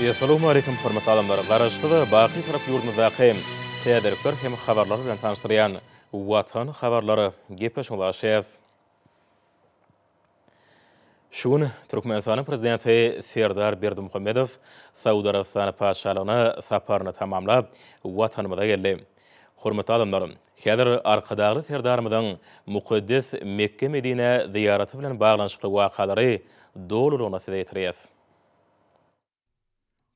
Essalawmaleýkim hormatly adamlar! Garaşsyz, baky Türk ýurdumyzdaky täzelikler hem habarlar bilen tanyşdyrýan Watan habarlary gepleşigi başlaýarys. Şu gün Türkmenistanyň Prezidenti Serdar Berdimuhamedow Saud Arabystany Patyşalygyna saparyny tamamlap, Watanymyza geldi. Hormatly adamlar! Häzir Arkadagly Serdarymyzyň mukaddes Mekge-Medinä zyýaraty bilen baglanyşykly wakalary dolulygyna size ýetirýäs.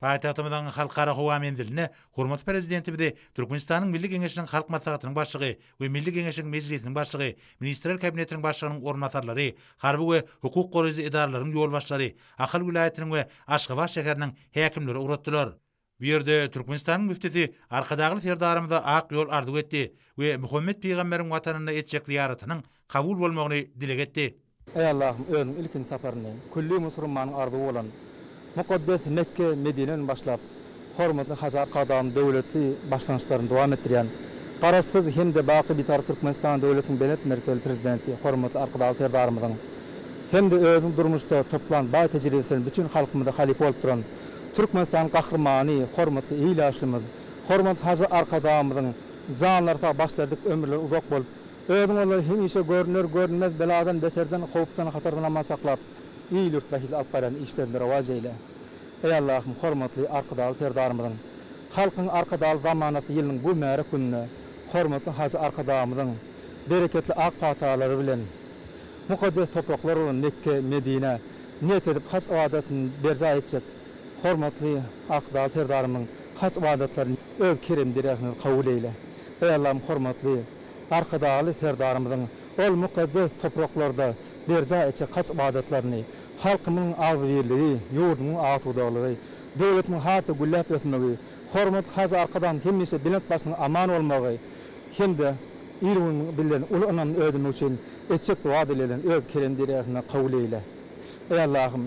Paýtagtymyzyň Halkara howa menzilinde hormatly Prezidentimizi Türkmenistanyň Milli Geňeşiniň Halk Maslahatynyň Başlygy we Milli Geňeşiň Mejlisiniň Başlygy, Ministrler Kabinetiniň Başlygynyň orunbasarlary, harby we hukuk goraýjy edaralaryň ýolbaşçylary, Ahal welaýatynyň we Aşgabat şäheriniň häkimleri ugratdylar. Bu ýerde Türkmenistanyň müftüsi Arkadagly Serdarymyza ak ýol arzuw etdi we Muhammet pygamberiň watanynda etjek zyýaratynyň kabul bolmagyny dileg etdi. Eý Allahym, Özüň ilkinji saparyny külli musurmanyň arzuwy bolan mukaddes Mekge, Medineden başlap, hormatly Hajy Arkadagymyzyň döwletli başlangyçlaryny dowam etdirýän Garaşsyz hem-de baky Bitarap Türkmenistan döwletiniň belent mertebeli Prezidenti hormatly Arkadagly Serdarymyzyň hem-de özüniň durmuşda toplan baý tejribesini bütin halkymyza halypa bolup duran Türkmenistan Gahrymany, hormatly il ýaşlymyz, hormatly Hajy Arkadagymyzyň janlary sag, başlerdik ömürleri uzak bolup, özüň olary hemişe görüner, görünmez beladan, beterden, howpdan, hatardan aman saklap, il-ýurt bähbidine alyp barýan işlerinde rowaç eýle. Eý Allahym, hormatly Arkadagly Serdarymyzyň, Halkyň Arkadagly zamanasy ýylynyň bu mübärek gününde hormatly Hajy Arkadagymyzyň bereketli ak patalary bilen Mukaddes topraklar bolan Mekge, Medinä niýet edip haj ybadatyny berjaý etjek hormatly Ak dag Serdarymyzyň haj ybadatlaryny öz kerem-deregiňiz kabul eýle. Eý Allahym hormatly Arkadagly Serdarymyzyň ol mukaddes topraklarda berjaý etjek haj ybadatlaryny, halkymyň agzybirligi, ýurdumyň agtudaglygy, döwletimiň has-da gülläp ösmegi, hormatly Hajy Arkadagymyz hemişe belent başynyň aman bolmagy, hem-de ir gün bilen uly ynamly özümiz üçin etjek doga-dileglerini Öz kerem deregasyňda kabul eýle. Eý Allahym!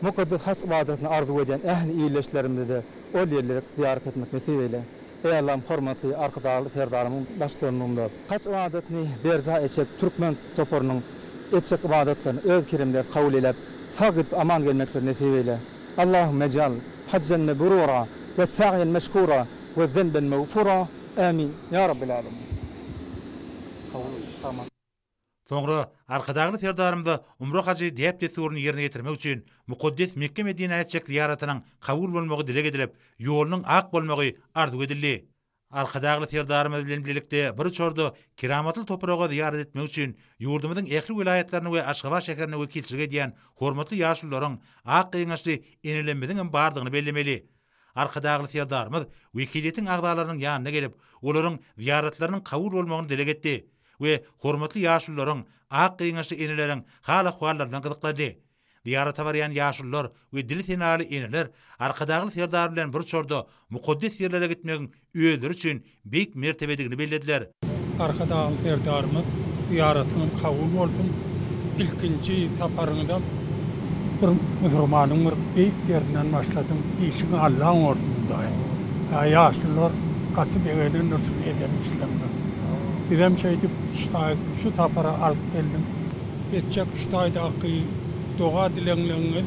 Mukaddes Haç ybadatyny arzuw edýän ähli ildeşlerimize-de ol ýerleri zyýarat etmek nesip eýle. Eý Allahym hormatly Arkadagly Serdarymyň baştutanlygynda Haç ybadatyny berjaý etjek türkmen toparynyň etjek ybadatlaryny Öz keremde kabul eýläp, sag gidip aman gelmekleri nesip eýle. Allahumejal hajjan mebrura we säýen meşkura We zenben mevfura Amin Ya Rabbil Alemin. Soňra Arkadagly Serdarymyza umra hajy däp-dessuryny ýerine ýetirmek üçin mukaddes Mekge-Medinä etjek zyýaratynyň kabul bolmagy dileg edilip, ýolunyň ak bolmagy arzuw edildi. Arkadagly Serdarymyz bilen bilelikde bir uçarda keramatly topraga zyýarat etmek üçin ýurdumyzyň ähli welaýatlaryny we Aşgabat şäherine wekilçilik edýän hormatly ýaşulularyň, ak gyňaçly enelemmiziň hem bardygyny bellemeli. Arkadagly Serdarymyz wekiliýetiň agzalarynyň ýanyna gelip, olaryň zyýaratlarynyň kabul bolmagyny dileg etdi we hormatly ýaşulularyň, ak gyňaçly eneleriň hal-ahwallaryna gyzyklandy. Zyýarata barýan ýaşulular we dili senaly eneler Arkadagly Serdar bilen bir uçarda mukaddes ýerlere gitmegiň özleri üçin beýik mertebedigini bellediler. Arkadagly Serdarymyz zyýaratyňyz kabul bolsun, ilkinji saparyňyzam bir musurmanyň bir beýik ýerinden başladyň, işiň allan bolsun Hudaýym. Ýa ýaşlylar gaty begenendir şuny eden işleriňe. Bizem şeýdip üç taý şu sapara alyp geldiň. Etjek üç taýdaky doga-dileňleňňiz.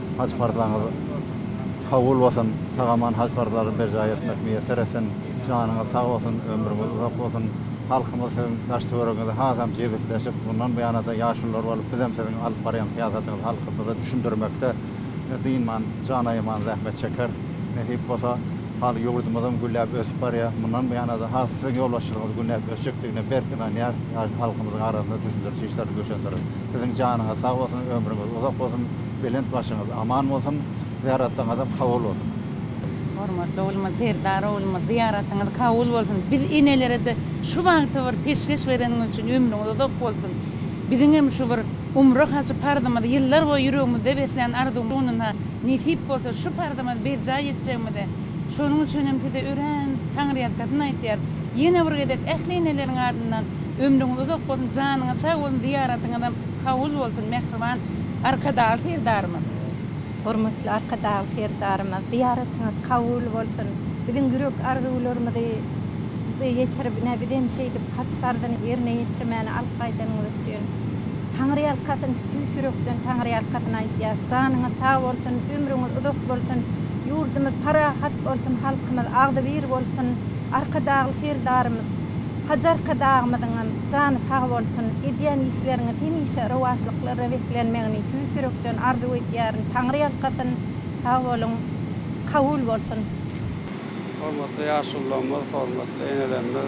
Haj parzaňyz kabul bolsun! Sag-aman haj parzlaryny berjaý etmek miýesser etsin! Janyňyz sag bolsun, ömrüňiz uzak bolsun! Halkymyz siziň daş-töweregiňizi hasam jebisleşip, mundan buýana-da ýaşulular bolup, bizem siziň alyp barýan syýasatyňyzy halkymyza düşündirmekde dynman, jan aýaman zähmet çekeris. Nesip bolsa, hal ýurdumyzam gülläp ösüp barýar. Mundan buýana-da has siziň ýolbaşçylygyňyz günläp ösjekdigine berk ynanýarys. Halkymyzyň arasynda düşündiriji işleri güýçlendireris. Siziň janyňyz sag bolsun, ömrüňiz uzak bolsun! Belent başyňyz aman bolsun, zyýaratlaňyzam kabul bolsun. Hormatly oglumyz Serdar oglumyz zyýaratyňyz kabul bolsun. Biz enelerede şu bagty bir peşgeş bereniňiz üçin ömrüňiz uzak bolsun. Biziňem şu bir umra hajy parzymyzy ýyllar boýy ýüregimizde beslän arzuwymyz gününe nesip bolsa şu parzymyzy berjaý etjegimize şonuň üçinem size örän taňryýalkasyn aýtýar. Ýene bir gezek ähli eneleriň adyndan ömrüňiz uzak bolsun, janyňyz sag bolsun, zyýaratyňyzam kabul bolsun mähriban Arkadagly Serdarymyz! Hormatly Arkadagly Serdarymyz! Zyýaratyňyz kabul bolsun! Biziň ýürek arzuwlarymyzy Size ýetirip, ine, bizem şeýdip haç parzyny ýerine ýetirmäni alyp gaýdanyňyz üçin Taňryýalkasyn, tüýs ýürekden Taňryýalkasyn aýdýas! Janyňyz sag bolsun, ömrüňiz uzak bolsun, ýurdumyz parahat bolsun, halkymyz agzybir bolsun! Arkadagly Serdarymyz! Hajy Arkadagymyzyňam! Jany sag bolsun. Edýän işleriňiz hemişe rowaçlyklara beslenmegini tüýs ýürekden arzuw edýärin. Taňry ýalkasyn. Sag boluň. Kabul bolsun. Hormatly ýaşulularymyz, hormatly enelerimiz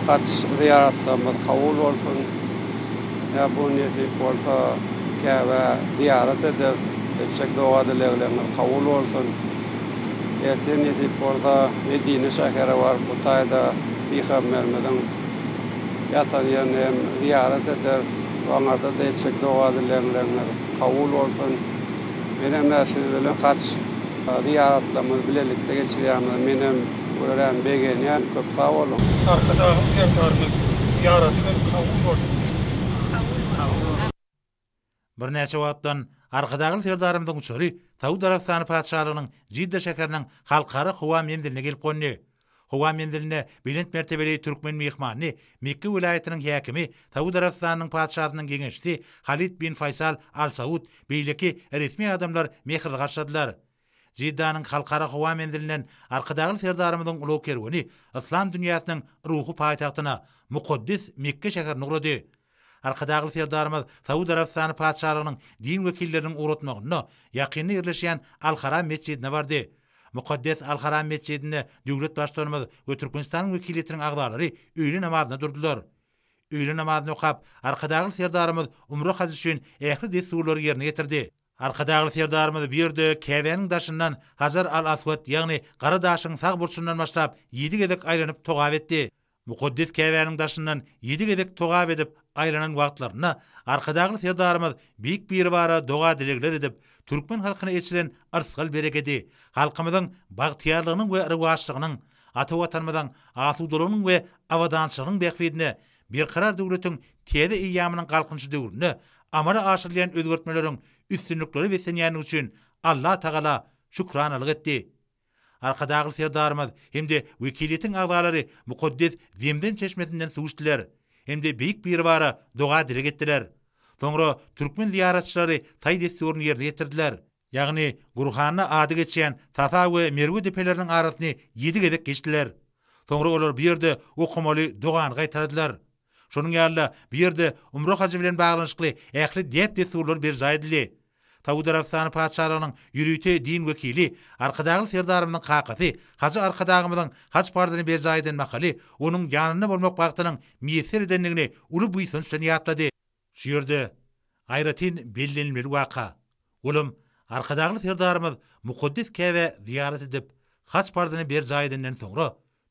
haç zyýaratlarymyz kabul bolsun. Ýa bu nesip bolsa Käbä zyýarat ederis. Etjek doga dileglerňiz kabul bolsun. Ertir nesip bolsa Medine şähere baryp bu taýda Pygamberimiziň ýatan ýerine hem zyýarat ederis we oňarda-da etjek doga-dilegleriniz kabul bolsun. Men hem-ä siz bilen haç zyýaratlarymyzy bilelikde geçirýämize menem örän begenýän. Köp sag boluň! Arkadagly Serdarymyz zyýaratyňyz kabul bolsun. Birnäçe wagtdan Arkadagly Serdarymyzyň uçary Saud Arabystany Patyşalygynyň Jidda şäheriniň Halkara howa menziline gelip gondy. Howa menzilinde belent mertebeli türkmen myhmanyny Mekge welaýatynyň häkimi, Saud Arabystanynyň Patyşasynyň geňeşçisi Halid bin Faýsal Al Saud, beýleki resmi adamlar mähirli garşyladylar. Jiddanyň Halkara howa menzilinden Arkadagly Serdarymyzyň ulag kerweni yslam dünýäsiniň ruhy paýtagtyna, mukaddes Mekge şäherine ugrady. Arkadagly Serdarymyz Saud Arabystany Patyşalygynyň din wekilleriniň ugratmagynda ýakynda ýerleşýän Al-Haram metjidine bardy. Mukaddes Al-Haram metjidinde döwlet Baştutanymyz we Türkmenistanyň wekiliýetiniň agzalary öýle namazyna durdular. Öýle namazyny okap, Arkadagly Serdarymyz umra hajy üçin ähli dessurlary ýerine ýetirdi. Arkadagly Serdarymyz bu ýerde Käbäniň daşyndan Hajar al-Aswat, ýagny Gara daşyň sag burçundan başlap, ýedi gezek aýlanyp togap etdi. Mukaddes Käbäniň daşyndan ýedi gezek togap edip, aýlanan wagtlarynda Arkadagly Serdarymyz Beýik Biribara doga-dilegler edip, türkmen halkyna eçilen yrsgal-berekedi, halkymyzyň bagtyýarlygynyň we rowaçlygynyň, ata Watanymyzyň asudalygynyň we abadançylygynyň bähbidine Berkarar döwletiň täze eýýamynyň Galkynyşy döwründe amala aşyrylýan özgertmeleriň üstünliklere beslenýändigi üçin Alla tagala şükranalyk etdi. Arkadagly Serdarymyz hem-de wekiliýetiň agzalary mukaddes Zemzem çeşmesinden suw içdiler hem-de Beýik Biribara doga-dileg etdiler. Soňra türkmen zyýaratçylary taý-dessuryny ýerine ýetirdiler. Ýagny, Gurhanda ady geçýän Safa we Merwe depeleriniň arasyny ýedi gezek geçdiler. Soňra olar bu ýerde okamaly dogany gaýtaladylar. Şonuň ýaly-da, bu ýerde umra hajy bilen baglanyşykly ähli däp-dessurlar berjaý edildi. Saud Arabystany Patyşalygynyň ýörite din wekili, Arkadagly Serdarymyzyň kakasy hajy Arkadagymyzyň haj parzyny berjaý eden mahaly onuň ýanynda bolmak bagtynyň miýesser edendigini uly buýsanç bilen ýatlady. Şu ýerde aýratyn bellenilmeli waka, olam Arkadagly Serdarymyz mukaddes Käbä zyýarat edip, haç parzyny berjaý edenden soňra,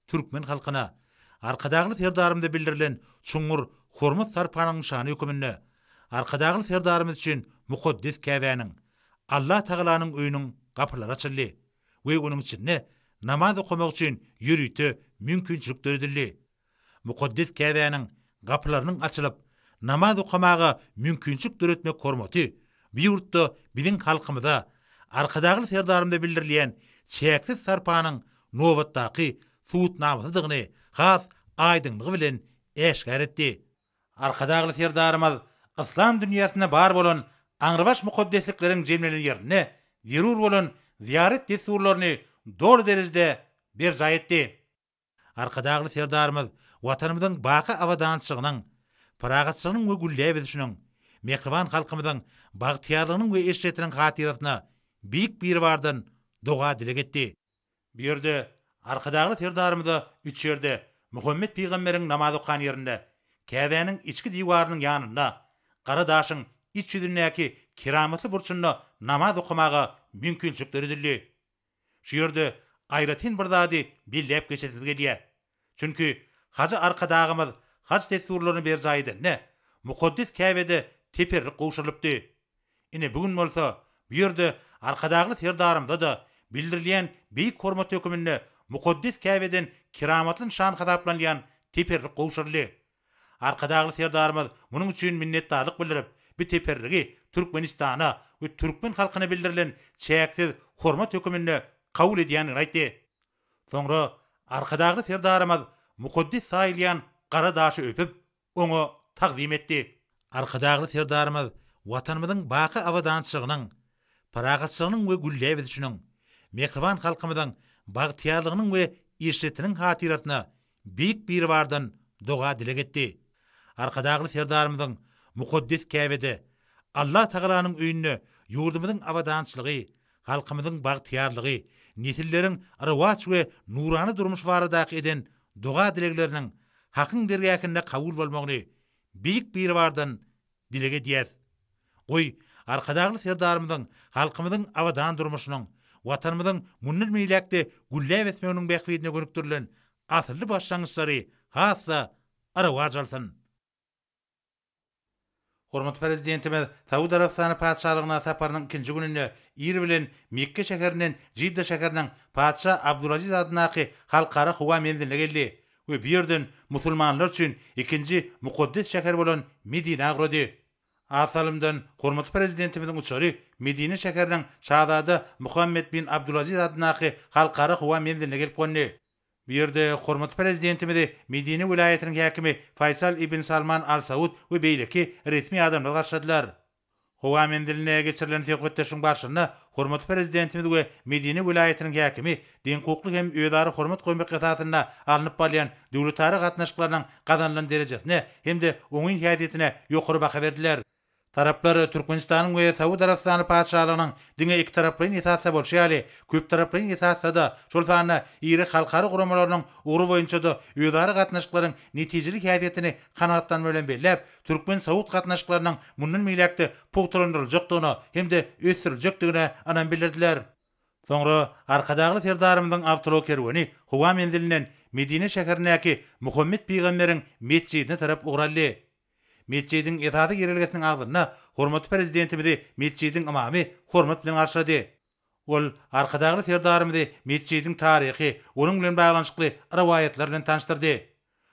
türkmen halkyna Arkadagly Serdarymyza bildirilen çuňňur hormat-sarpanyň nyşany höküminde Arkadagly Serdarymyz üçin mukaddes Käbäniň, Allah Tagalanyň öýüniň gapylary açyldy we onuň içinde namaz okamak üçin ýörite mümkinçilik döredildi. Mukaddes Käbäniň gapylarynyň açylyp, namaz okamaga mümkinçilik döretmek hormaty bu ýurtda biziň halkymyza Arkadagly Serdarymyza bildirilýän çäksiz sarpanyň nobatdaky subutnamasydygyny has aýdyňlygy bilen äşgär etdi. Arkadagly Serdarymyz yslam dünýäsinde bar bolan aňrybaş mukaddeslikleriň jemlenen ýerinde zerur bolan zyýarat dessurlaryny doly derejede berjaý etdi. Arkadagly Serdarymyz Watanymyzyň baky abadançylygynyň, parahatçylygynyň we gülläp ösüşiniň, mähriban halkymyzyň bagtyýarlygynyň we eşretiniň hatyrasyna Beýik Biribardan doga-dileg etdi. Bu ýerde Arkadagly Serdarymyza üç ýerde, Muhammet pygamberiň namaz okan ýerinde, Käbäniň içki diwarynyň ýanynda, Gara daşyň iç ýüzündäki keramatly burçunda namaz okamaga mümkinçilik döredildi. Şu ýerde aýratyn bir zady belläp geçesiz gelýär. Çünki Hajy Arkadagymyz haj dessurlaryny berjaý edende, mukaddes Käbede teperrik gowşurylypdy. Ine, bu gün bolsa, bu ýerde Arkadagly Serdarymyza-da bildirilýän beýik hormat höküminde mukaddes Käbeden keramatly nyşan hasaplanylýan teperrik gowşuryldy. Arkadagly Serdarymyz munuň üçin minnetdarlyk bildirip, bu teperrigi Türkmenistana we türkmen halkyna bildirilen çäksiz hormat höküminde kabul edýändigini aýtdy. Soňra Arkadagly Serdarymyz mukaddes saýylýan gara daşy öpüp, oňa tagzym etdi. Arkadagly Serdarymyz Watanymyzyň baky abadançylygynyň, parahatçylygynyň we gülläp ösüşiniň, mähriban halkymyzyň bagtyýarlygynyň we eşretiniň hatyrasyna Beýik Biribardan doga-dileg etdi. Arkadagly Serdarymyzyň mukaddes Käbede, Alla Tagalanyň öýünde ýurdumyzyň abadançylygy, halkymyzyň bagtyýarlygy, nesilleriň rowaç we nurana durmuşy baradaky eden doga-dilegleriniň Hakyň dergähinde kabul bolmagyny Beýik Biribardan Dileg edýäs. Goý, Arkadagly Serdarymyzyň halkymyzyň abadan durmuşynyň, Watanymyzyň mundan beýläk-de gülläp ösmeginiň bähbidine gönükdirilen asylly başlangyçlary has-da arawaç alsyn! Hormatly Prezidentimiz Saud Arabystany Patyşalygyna saparynyň ikinji gününde ir bilen Mekge şäherinden Jidda şäheriniň Patyşa Abdulaziz adyndaky Halkara howa menziline geldi We bu ýerden musulmanlar üçin ikinji mukaddes şäher bolan Medinä agrady. A salymdan hormatly Prezidentimiziň uçary Medine şäheriniň Şazada Muhammed bin Abdulaziz adyndaky Halkara howa menziline gelip gondy. Bu ýerde hormatly Prezidentimizi Medine welaýatynyň häkimi Faýsal ibn Salman Al Saud we beýleki resmi adamlar garşyladylar. Howa menzilinde geçirilen söhbetdeşligiň barşynda hormatly Prezidentimiz we Medine welaýatynyň häkimi deňhukukly hem özara hormat goýmak esasynda alnyp barylýan döwletara gatnaşyklarynyň gazanylan derejesine hem-de oňyn häsiýetine ýokary baha berdiler. Taraplar Türkmenistanyň we Saud Arabystany Patyşalygynyň diňe ikitaraplaýyn esasda bolşy ýaly, köptaraplaýyn esasda-da, şol sanda iri halkara guramalarynyň ugry boýunça-da özara gatnaşyklaryň netijeli häsiýetini kanagatlanma bilen belläp, türkmen-saud gatnaşyklarynyň mundan beýläk-de pugtalandyryljakdygyna hem-de ösdüriljekdigine ynam bildirdiler. Soňra Arkadagly Serdarymyzyň awtoulag kerweni howa menzilinden Medine şäherindäki Muhammet pygamberiň metjidine tarap ugur aldy. Metjidiň esasy girelgesiniň agzynda hormatly Prezidentimizi metjidiň ymamy hormat bilen garşylady. Ol Arkadagly Serdarymyzy metjidiň taryhy, onuň bilen baglanyşykly rowaýatlar bilen tanyşdyrdy.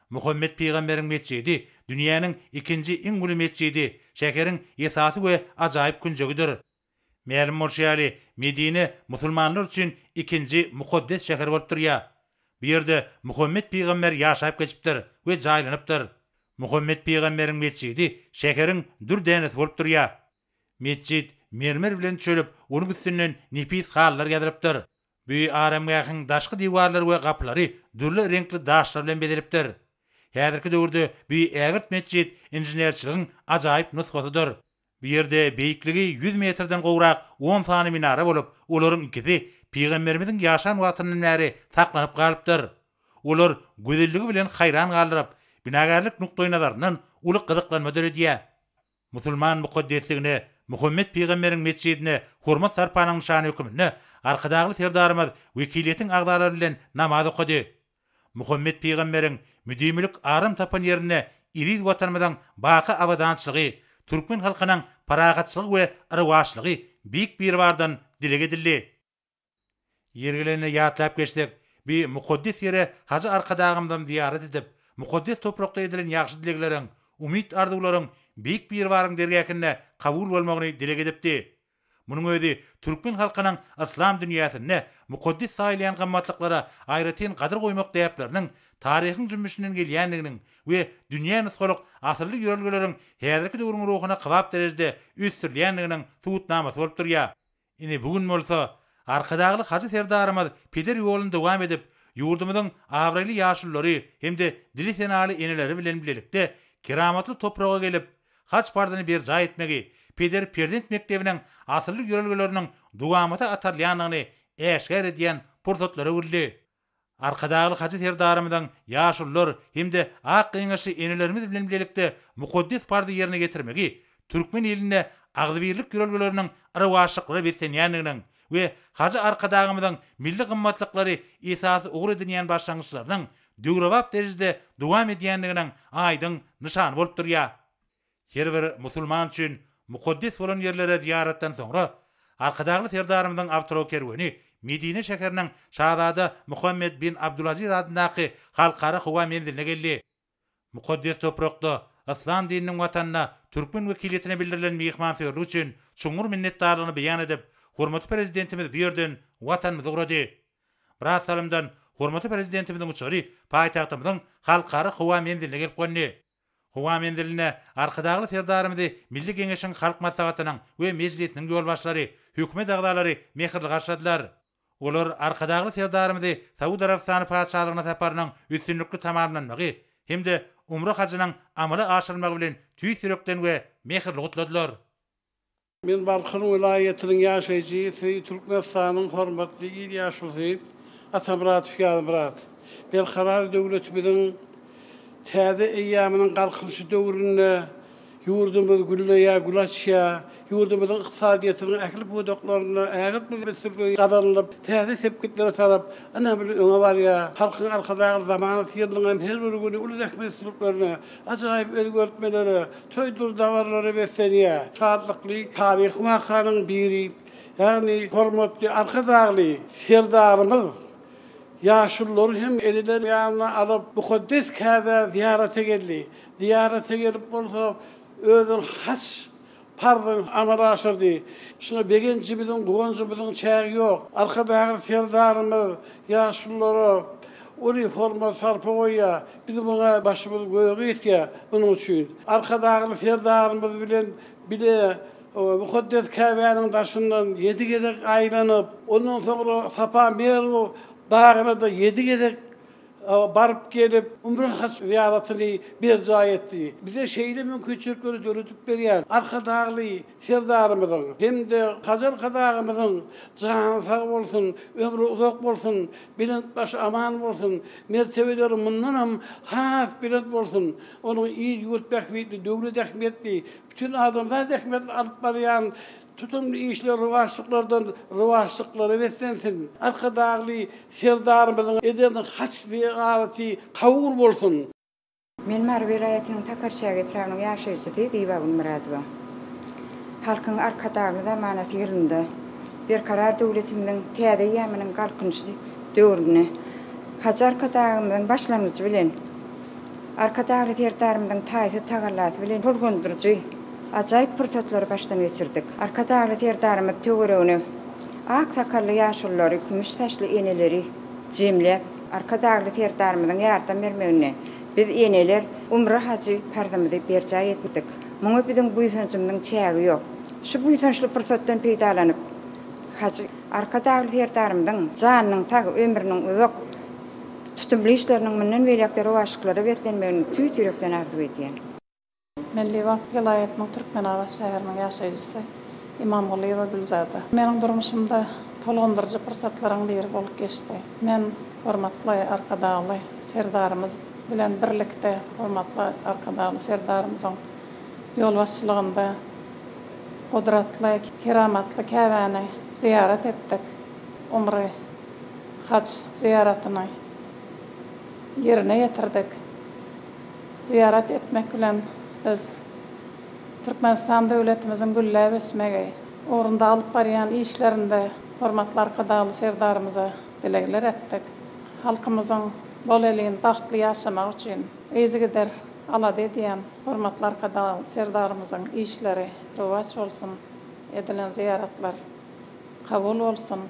Muhammet pygamberiň metjidi dünýäniň ikinji iň uly metjidi, şäheriň esasy we ajaýyp künjegidir. Mälim bolşy ýaly, Medine musulmanlar üçin ikinji mukaddes şäher bolup durýar. Bu ýerde Muhammet pygamber ýaşap geçipdir we jaýlanypdyr. Muhammet pygamberiň metjidi şäheriň dür dänesi bolup durýar. Metjit mermer bilen çölüp, onuň üstünden nepis halylar ýazylypdyr. Bu aramgähiň daşky diwarlary we gapylary dürli reňkli daşlar bilen bezelipdir. Häzirki döwürde bu ägirt metjit inženerçiligiň ajaýyp nusgasydyr. Bu ýerde beýikligi ýüz metrden gowrak on sany minara bolup, olaryň ikisi pygamberimiziň ýaşan wagtyndan bäri saklanyp galypdyr. Olar gözelligi bilen haýran galdyryp, binagärlik nukdaýnazaryndan uly gyzyklanma döredýär. Musulman mukaddesligine, Muhammet pygamberiň metjidine hormat-sarpanyň nyşany höküminde Arkadagly Serdarymyz wekiliýetiň agzalary bilen namaz okady. Muhammet pygamberiň müdimilik aram tapan ýerinde eziz Watanymyzyň baky abadançylygy, türkmen halkynyň parahatçylygy we rowaçlygy Beýik Biribardan dileg edildi. Ýeri gelende ýatlap geçsek, bi mukaddes ýere hajy Arkadagymyzam zyýarat edip, mukaddes toprakda edilen ýagşy dilegleriň, umyt-arzuwlaryň Beýik Biribaryň dergähinde kabul bolmagyny dileg edipdi. Munuň özi türkmen halkynyň yslam dünýäsinde mukaddes saýylýan gymmatlyklara aýratyn gadyr goýmak däpleriniň taryhyň jümmüşinden gelýändiginiň we dünýä nusgalyk asylly ýörelgeleriň häzirki döwrüň ruhuna kybap derejede ösdürilýändiginiň subutnamasy bolup durýar. Ine, bu gün bolsa Arkadagly Hajy Serdarymyz peder ýoluny dowam edip, ýurdumyzyň abraýly ýaşululary hem-de dili senaly eneleri bilen bilelikde keramatly topraga gelip, haj parzyny berjaý etmegi, peder-perzent mekdebiniň asylly ýörelgeleriniň dowamata atarylýandygyny äşgär edýän pursatlary öwrüldi. Arkadagly Hajy Serdarymyzyň ýaşulular hem-de ak geňeşli enelerimiz bilen bilelikde mukaddes parzy ýerine ýetirmegi türkmen ilinde agzybirlik ýörelgeleriniň yrawaçlyklara beslenýändiginiň we Hajy Arkadagymyzyň milli gymmatlyklary esasy ugur edinýän başlangyçlarynyň döwrebap derejede dowam edýändiginiň aýdyň nyşany bolup durýar. Her bir musulman üçin mukaddes bolan ýerlere zyýaratdan soňra, Arkadagly Serdarymyzyň awtokerweni Medine şäheriniň Şazada Muhammed bin Abdulaziz adyndaky Halkara howa menziline geldi. Mukaddes toprakda, Yslam dininiň watanynda türkmen wekiliýetine bildirilen myhmansöýerlik üçin çuňňur minnetdarlygyny beýan edip, hormatly Prezidentimiz bu ýerden Watanymyza ugrady. Biraz salymdan hormatly Prezidentimiziň uçary paýtagtymyzyň Halkara howa menziline gelip gondy. Howa menzilinde Arkadagly Serdarymyzy Milli Geňeşiň Halk Maslahatynyň we Mejlisiniň ýolbaşçylary, hökümet agzalary mähirli garşyladylar. Olar Arkadagly Serdarymyzy Saud Arabystany Patyşalygyna saparynyň üstünlikli tamamlanmagy hem-de umra hajynyň amala aşyrylmagy bilen tüýs ýürekden we mähirli gutladylar. Men Balkan welaýatynyň ýaşaýjysy, Türkmenistanyň hormatly il ýaşulusy Atamyradow Ýazmyrat. Berkarar döwletimiziň täze eýýamynyň Galkynyşy döwründe ýurdumyz gülleýär, gül açýar. Ýurdumyzyň ykdysadyýetiniň ähli pudaklarynda ägirt uly ösüşler gazanylyp, täze sepgitlere tarap ynamly öňe barýar. Halkyň Arkadagly zamanasy ýylynyň hem her bir güni uly zähmetsizliklerine, Ajaýyp özgertmelere, toý-dur-dabarlara beslenýär. Şatlykly taryhy wakanyň biri, ýagny hormatly Arkadagly Serdarymyz ýaşululary hem eneler ýanyna alyp, mukaddes kädä zyýarata geldi. Zyýarata gelip bolsa, özüniň has parzyny amala aşyrdy. Şuňa begenjimiziň, guwanjymyzyň çägi ýok. Arkadagly Serdarymyz ýaşululara uly hormat-sarpa goýýar. Biz muňa başymyz göge ýetýär. Munuň üçin Arkadagly Serdarymyz bilen bile mukaddes Käbäniň daşyndan ýedi gezek aýlanyp, ondan soňra Safa Merw dagyna-da ýedi gezek baryp gelip, Umre haj zyýaratyny berjaý etdi. Bize şeýle mümkinçilikleri döredip berýän Arkadagly Serdarymyzyň hem-de Hajy Arkadagymyzyň jany sag bolsun, ömri uzak bolsun, belent başy aman bolsun, mertebeleri mundanam has belent bolsun, onuň il-ýurt bähbitli, döwlet ähmiýetli, bütin adamzat ähmiýetli alyp barýan Tutumly işler rowaçlyklardan rowaçlyklara beslensin! Arkadagly Serdarymyzyň eden haç-zyýaraty kabul bolsun! Men Mary welaýatynyň Takarçäge etrabynyň ýaşaýjysy Zibagül Myradowa. Halkyň Arkadagly zamanasy ýylynda Berkarar döwletimiziň täze eýýamynyň Galkynyşy döwründe Hajy Arkadagymyzyň başlangyjy bilen Arkadagly Serdarymyzyň taýsyz tagallasy bilen tolgundyryjy, ajaýyp pursatlary başdan geçirdik. Arkadagly Serdarymyz töweregine ak sakally ýaşululary, kümüş saçly eneleri jemläp, Arkadagly Serdarymyzyň ýardam bermeginde biz eneler umra hajy parzymyzy berjaý etdik. Muňa biziň buýsanjymyzyň çägi ýok. Şu buýsançly pursatdan peýdalanyp, hajy Arkadagly Serdarymyzyň janynyň sag, ömrüniň uzak, Tutumly işleriniň mundan beýläk-de rowaçlyklara beslenmegini tüýs ýürekden arzuw edýän. Mellibag welaýatynyň Türkmenabat şäheriniň ýaşaýjysy Imamgulyýewa Gülzada. Meniň durmuşymda tolgundyryjy pursatlaryň biri bolup geçdi. Men hormatly Arkadagly Serdarymyz bilen birlikde hormatly Arkadagly Serdarymyzyň ýolbaşçylygynda gudratly, keramatly Käbäni zyýarat etdik. Umry Haj zyýaratyny ýerine ýetirdik. Zyýarat etmek bilen biz Türkmenistan döwletimiziň gülläp ösmegi ugrunda alyp barýan işlerinde hormatly Arkadagly Serdarymyza dilegler etdik. Halkymyzyň bolelin, bagtly ýaşamagy üçin yzygider alada edýän hormatly Arkadagly Serdarymyzyň işleri rowaç bolsun, edilen zyýaratlar kabul bolsun!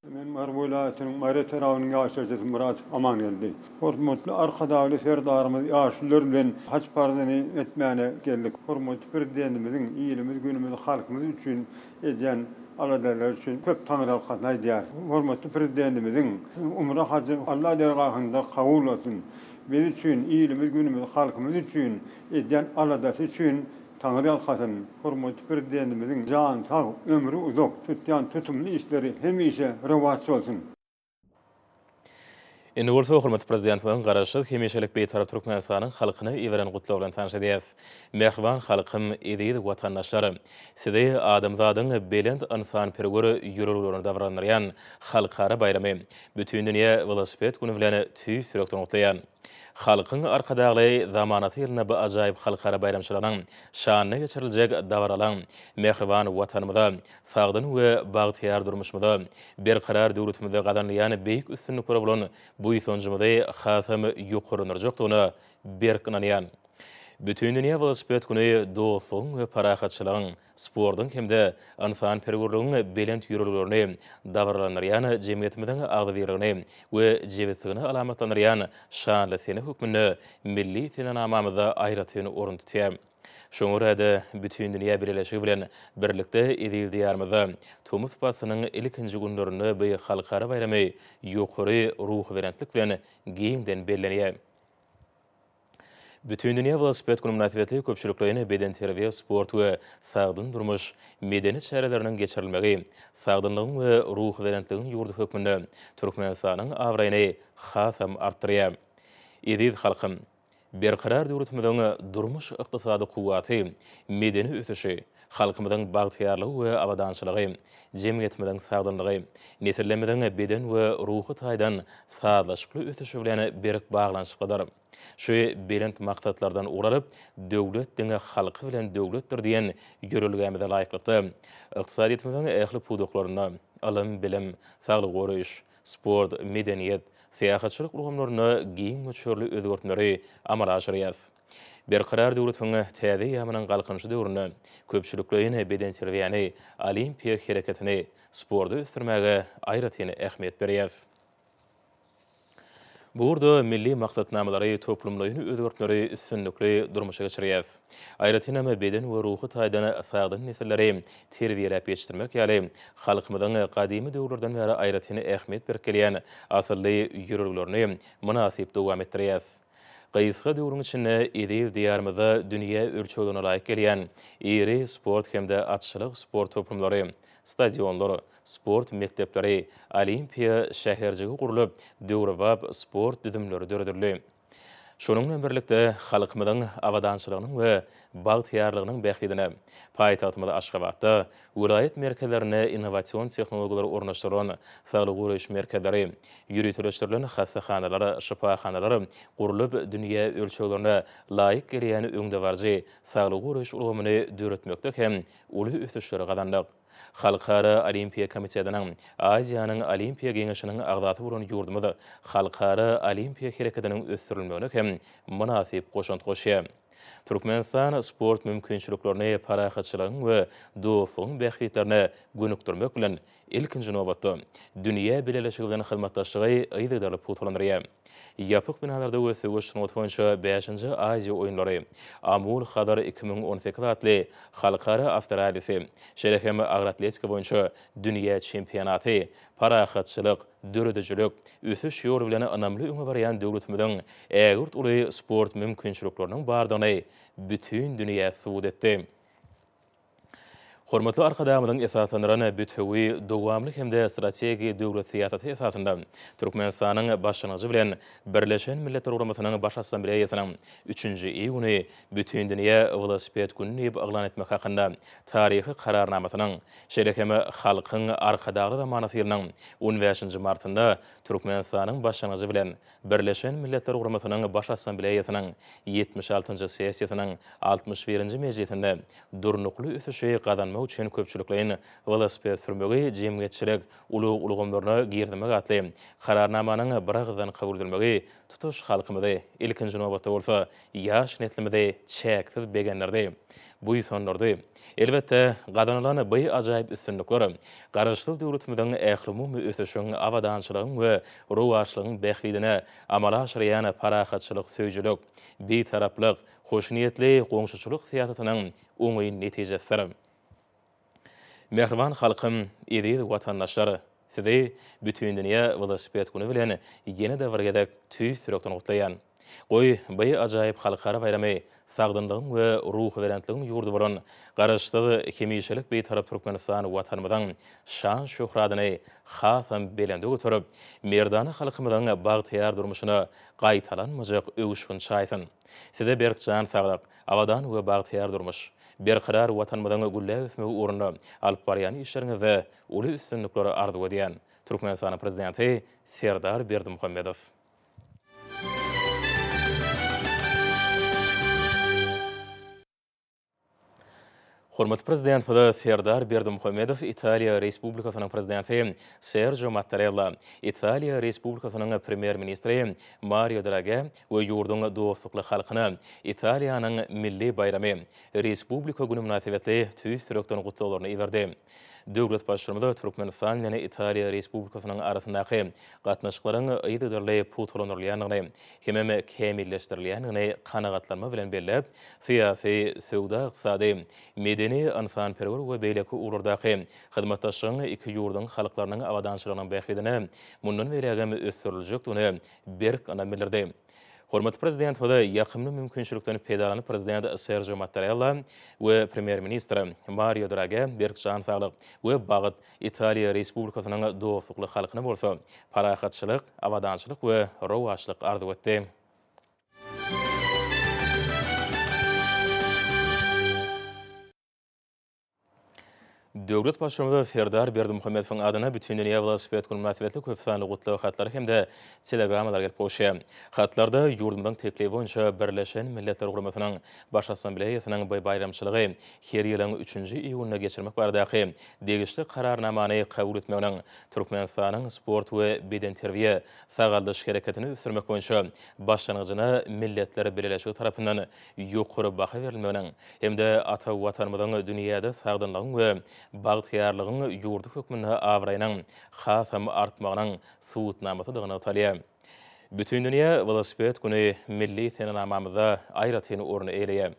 Men Mary welaýatynyň Mary etrabynyň ýaşaýjysy Myrat Amangeldi. Hormatly Arkadagly Serdarymyz ýaşulylar bilen haç parzyny etmäne geldik. Hormatly Prezidentimiziň ilimiz, günümiz, halkymyz üçin edýän aladalary üçin köp taňryýalkasyn aýdýarys. Hormatly Prezidentimiziň umra hajy Alla dergahynda kabul bolsun. Biz üçin, ilimiz, günümiz, halkymyz üçin edýän aladasy üçin Taňryýalkasyn, hormatly Prezidentimiziň jany sag, ömri uzak, tutýan tutumly işleri hemişe rowaç bolsun! Indi bolsa hormatly Prezidentimiziň Garaşsyz, hemişelik Bitarap Türkmenistanyň halkyna iberen gutlagy bilen tanyş edýäs. Mähriban halkym, eziz watandaşlar! Sizi adamzadyň belent ynsanperwer ýüreglerini dabaralandyrýan Halkara baýramy, Bütindünýä welosiped güni bilen tüýs ýürekden gutlaýan. Halkyň Arkadagly zamanasy ýylynda bu ajaýyp halkara baýramçylygynyň şanyna geçiriljek dabaralaň mähriban Watanymyza, sagdyn we bagtyýar durmuşymyza, berkarar döwletimize gazanylýan beýik üstünliklere bolan buýsanjymyzy hasam ýokarlandyrjakdygyna berk ynanýan. Bütindünýä welosiped güni dostlugyň we parahatçylygyň, sportuň hem-de ynsanperwerligiň belent ýörelgelerini dabaralandyrýan jemgyýetimiziň agzybirligini we jebisligini alamatlandyrýan şanly sene hökmünde milli senenamamyzda aýratyn orun tutýar. Şoňa görä-de, bütindünýä bileleşigi bilen birlikde eziz Diýarymyzda tomus paslynyň ilkinji günlerinde bu halkara baýramy ýokary ruhubelentlik bilen giňden bellenýär. Bütindünýä welosiped güni mynasybetli köpçülikleýin bedenterbiýe, sport we sagdyn durmuş medeni çäreleriniň geçirilmegi sagdynlygyň we ruhubelentligiň ýurdy hökmünde Türkmenistanyň abraýyny hasam artdyrýar. Eziz halkym! Berkarar döwletimiziň durmuş-ykdysady kuwwaty, medeni ösüşi, Halkymyzyň bagtyýarlygy we abadançylygy, jemgyýetimiziň sagdynlygy, nesillerimiziň beden we ruhy taýdan sazlaşykly ösüşi bilen berk baglanyşyklydyr. Şu belent maksatlardan ugur alyp, Döwlet diňe halky bilen döwletdir diýen ýörelgämize laýyklykda, ykdysadyýetimiziň ähli pudaklarynda, ylym-bilim, saglygy goraýyş, sport, medeniýet, syýahatçylyk ulgamlarynda giň möçberli özgertmeleri amala aşyrýarys. Berkarar döwletiň täze eýýamynyň Galkynyşy döwründe köpçülikleýin bedenterbiýäni, olimpiýa hereketini, sporty ösdürmäge aýratyn ähmiýet berýäris. Bu ugurda milli maksatnamalary, toplumlaýyn özgertmeleri üstünlikli durmuşa geçirýäris. Aýratynam, beden we ruhy taýdan sagdyn nesilleri terbiýeläp ýetişdirmek ýaly halkymyzyň gadymy döwürlerden bäri aýratyn ähmiýet berip gelýän asylly ýörelgelerini mynasyp dowam etdirýäris. Gysga döwrüň içinde eziz Diýarymyzda dünýä ölçeglerine laýyk gelýän iri sport hem-de atçylyk sport toplumlary, stadionlar, sport mekdepleri, Olimpiýa şäherjigi gurlup, döwrebap sport düzümleri döredildi. Şunuň bilen birlikde, halkymyzyň abadançylygynyň we bagtyýarlygynyň bähbidine paýtagtymyz Aşgabatda Welaýat merkezlerine innowasion tehnologiýalary ornaşdyrylan saglygy goraýyş merkezleri, ýöriteleşdirilen hassahanalar, şypahanalar gurlup, dünýä ölçeglerine laýyk gelýän öňdebaryjy saglygy goraýyş ulgamyny döretmekde hem uly ösüşleri gazandyk. Halkara Olimpiýa komitetiniň, Aziýanyň Olimpiýa geňeşiniň agzasy bolan ýurdumyz halkara olimpiýa hereketiniň ösdürilmegine hem mynasyp goşant goşýar. Türkmenistan sport mümkinçiliklerini parahatçylygyň we dostlugyň bähbitlerine gönükdirmek bilen, ilkinji nobatda, dünýä bileleşigi bilen hyzmatdaşlygy yzygiderli pugtalandyrýar. Ýapyk binalarda we söweş sungaty boýunça bäşinji Aziýa oýunlary, Amul Hazar iki müň on sekiz atly halkara awtorallisi, şeýle hem agratletika boýunça dünýä çempionaty parahatçylyk, döredijilik, ösüş ýoly bilen ynamly öňe barýan döwletimiziň ägirt uly sport mümkinçilikleriniň bardygyny bütin dünýä subut etdi. Hormatly Arkadagymyzyň esaslandyran bütewi, dowamly hem-de strategik döwlet syýasaty esasynda Türkmenistanyň başlangyjy bilen Birleşen Milletler Guramasynyň Baş Assambleýasynyň üçünji I güni Bütindünýä welosiped güni diýip yglan etmek hakynda taryhy Kararnamasynyň, şeýle hem Halkyň Arkadagly zamanasy ýylynyň on bäşinji martynda Türkmenistanyň başlangyjy bilen Birleşen Milletler Guramasynyň Baş Assambleýasynyň ýetmiş altynjy sessiýasynyň altmyş birinji mejlisinde durnukly ösüşi gazanmak üçin köpçülikleýin welosiped sürmegi jemgyýetçilik ulag ulgamlaryna girizmek atly Kararnamanyň biragyzdan kabul edilmegi tutuş halkymyzy, ilkinji nobatda bolsa, ýaş neslimizi çäksiz begendirdi, buýsandyrdy. Elbetde, gazanylan by ajaýyp üstünlikler Garaşsyz döwletimiziň ählumumy ösüşiň, abadançylygyň we rowaçlygyň bähbidine amala aşyrýan parahatçylyk söýüjilik, bitaraplyk, hoşniýetli goňşuçylyk syýasatynyň oňyn netijesidir. Mähriban halkym, eziz watandaşlar! Sizi Bütindünýä welosiped güni bilen ýene-de bir gezek tüýs ýürekden gutlaýan. Goý, by ajaýyp halkara baýramy sagdynlygyň we ruhubelentligiň ýurdy bolan Garaşsyz, hemişelik Bitarap Türkmenistan Watanymyzyň şan-şöhratyny hasam belende göterip, merdana halkymyzyň bagtyýar durmuşyna gaýtalanmajak öwüşgin çaýsyn! Size berk jan saglyk, abadan we bagtyýar durmuş, berkarar Watanymyzyň gülläp ösmegi ugrunda alyp barýan işleriňizde uly üstünlikler arzuw edýän, Türkmenistanyň Prezidenti Serdar Berdimuhamedow. Hormatly Prezidentimize Serdar Berdimuhamedow Italiýa Respublikasynyň Prezidenti Serjo Mattarella, Italiýa Respublikasynyň Premýer-ministri Mario Drage we ýurduň dostlukly halkyna Italiýanyň milli baýramy, Respublika güni mynasybetli tüýs ýürekden gutlaglaryny iberdi. Döwlet Baştutanymy Türkmenistan bilen Italiýa Respublikasynyň arasyndaky gatnaşyklaryň yzygiderli pugtalandyrylýandygyny hemem kämilleşdirilýändigini kanagatlanma bilen belläp, syýasy, söwda-ykdysady, medeni-ynsanperwer we beýleki ugurlardaky hyzmatdaşlygyň iki ýurduň halklarynyň abadançylygynyň bähbidine mundan beýlägem ösdüriljekdigine berk ynam bildirdi. Hormatly Prezident bize ýakymly mümkinçilikden peýdalanyp Prezident Serjo Mattarella we Premýer-ministr Mario Drage berk jan saglyk we bagt, Italiýa Respublikasynyň dostlukly halkyna bolsa parahatçylyk, abadançylyk we rowaçlyk arzuw etdi. Döwlet Baştutanyna Serdar Berdimuhamedowyň adyna Bütindünýä welosiped güni mynasybetli köp sanly gutlag hatlary hem-de telegrammalar gelip gowşy. Hatlarda ýurdumyzyň teklibi boýunça Birleşen Milletler Guramasynyň Baş Assambleýasynyň bu baýramçylygy her ýylyň üçünji iýunynda geçirmek baradaky degişli Kararnamany kabul etmeginiň Türkmenistanyň sport we bedenterbiýe, sagaldyş hereketini ösdürmek boýunça başlangyjyna Milletler Bileleşigi tarapyndan ýokary baha berilmeginiň hem-de ata Watanymyzyň dünýäde sagdynlygyň we bagtyýarlygyň ýurdy hökmünde abraýynyň hasam artmagynyň subutnamasydygy nygtalýar. Bütindünýä welosiped güni milli senenamamyzda aýratyn orun eýeleýär.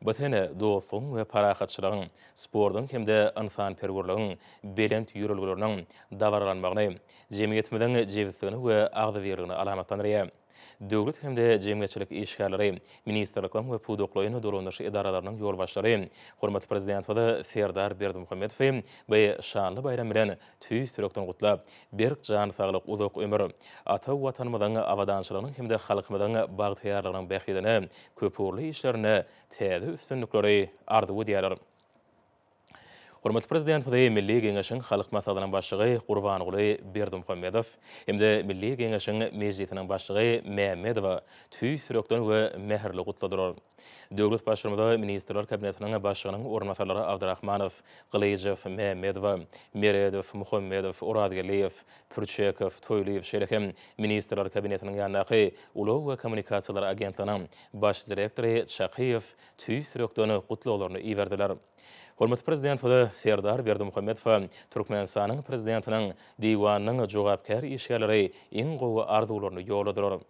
Bu sene dostlugyň we parahatçylygyň, sportuň hem-de ynsanperwerligiň belent ýörelgeleriniň dabaralanmagyny, jemgyýetimiziň jebisligini we agzybirligini alamatlandyrýar. Döwlet hem-de jemgyýetçilik işgärleri, ministrlikleriň we pudaklaýyn dolandyryş edaralarynyň ýolbaşçylary hormatly Prezidentimizi Serdar Berdimuhamedowy bu şanly baýram bilen tüýs ýürekden gutlap, berk jan saglyk, uzak ömür, ata Watanymyzyň abadançylygynyň hem-de halkymyzyň bagtyýarlygynyň bähbidine köpugurly işlerinde täze üstünlikleri arzuw edýärler. Hormatly Prezidentimizi Milli Geňeşiň Halk Maslahatynyň Başlygy Gurbanguly Berdimuhamedow hem-de Milli Geňeşiň Mejlisiniň Başlygy Mämmedowa tüýs ýürekden we mähirli gutladylar. Döwlet Baştutanyma Ministrler Kabinetiniň Başlygynyň orunbasarlary Abdrahmanow, Gylyjow, Mämmedowa, Meredow, Muhammedow, Orazgeldiýew, Pürçekow, Toýlyýew şeýle hem Ministrler Kabinetiniň ýanyndaky Ulag we kommunikasiýalar agentliginiň Baş direktory Çakyýew tüýs ýürekden gutlaglaryny iberdiler. Hormatly Prezidentimiz Serdar Berdimuhamedowa Türkmenistanyň Prezidentiniň Diwanynyň jogapkär işgärleri iň gowy arzuwlaryny ýolladylar.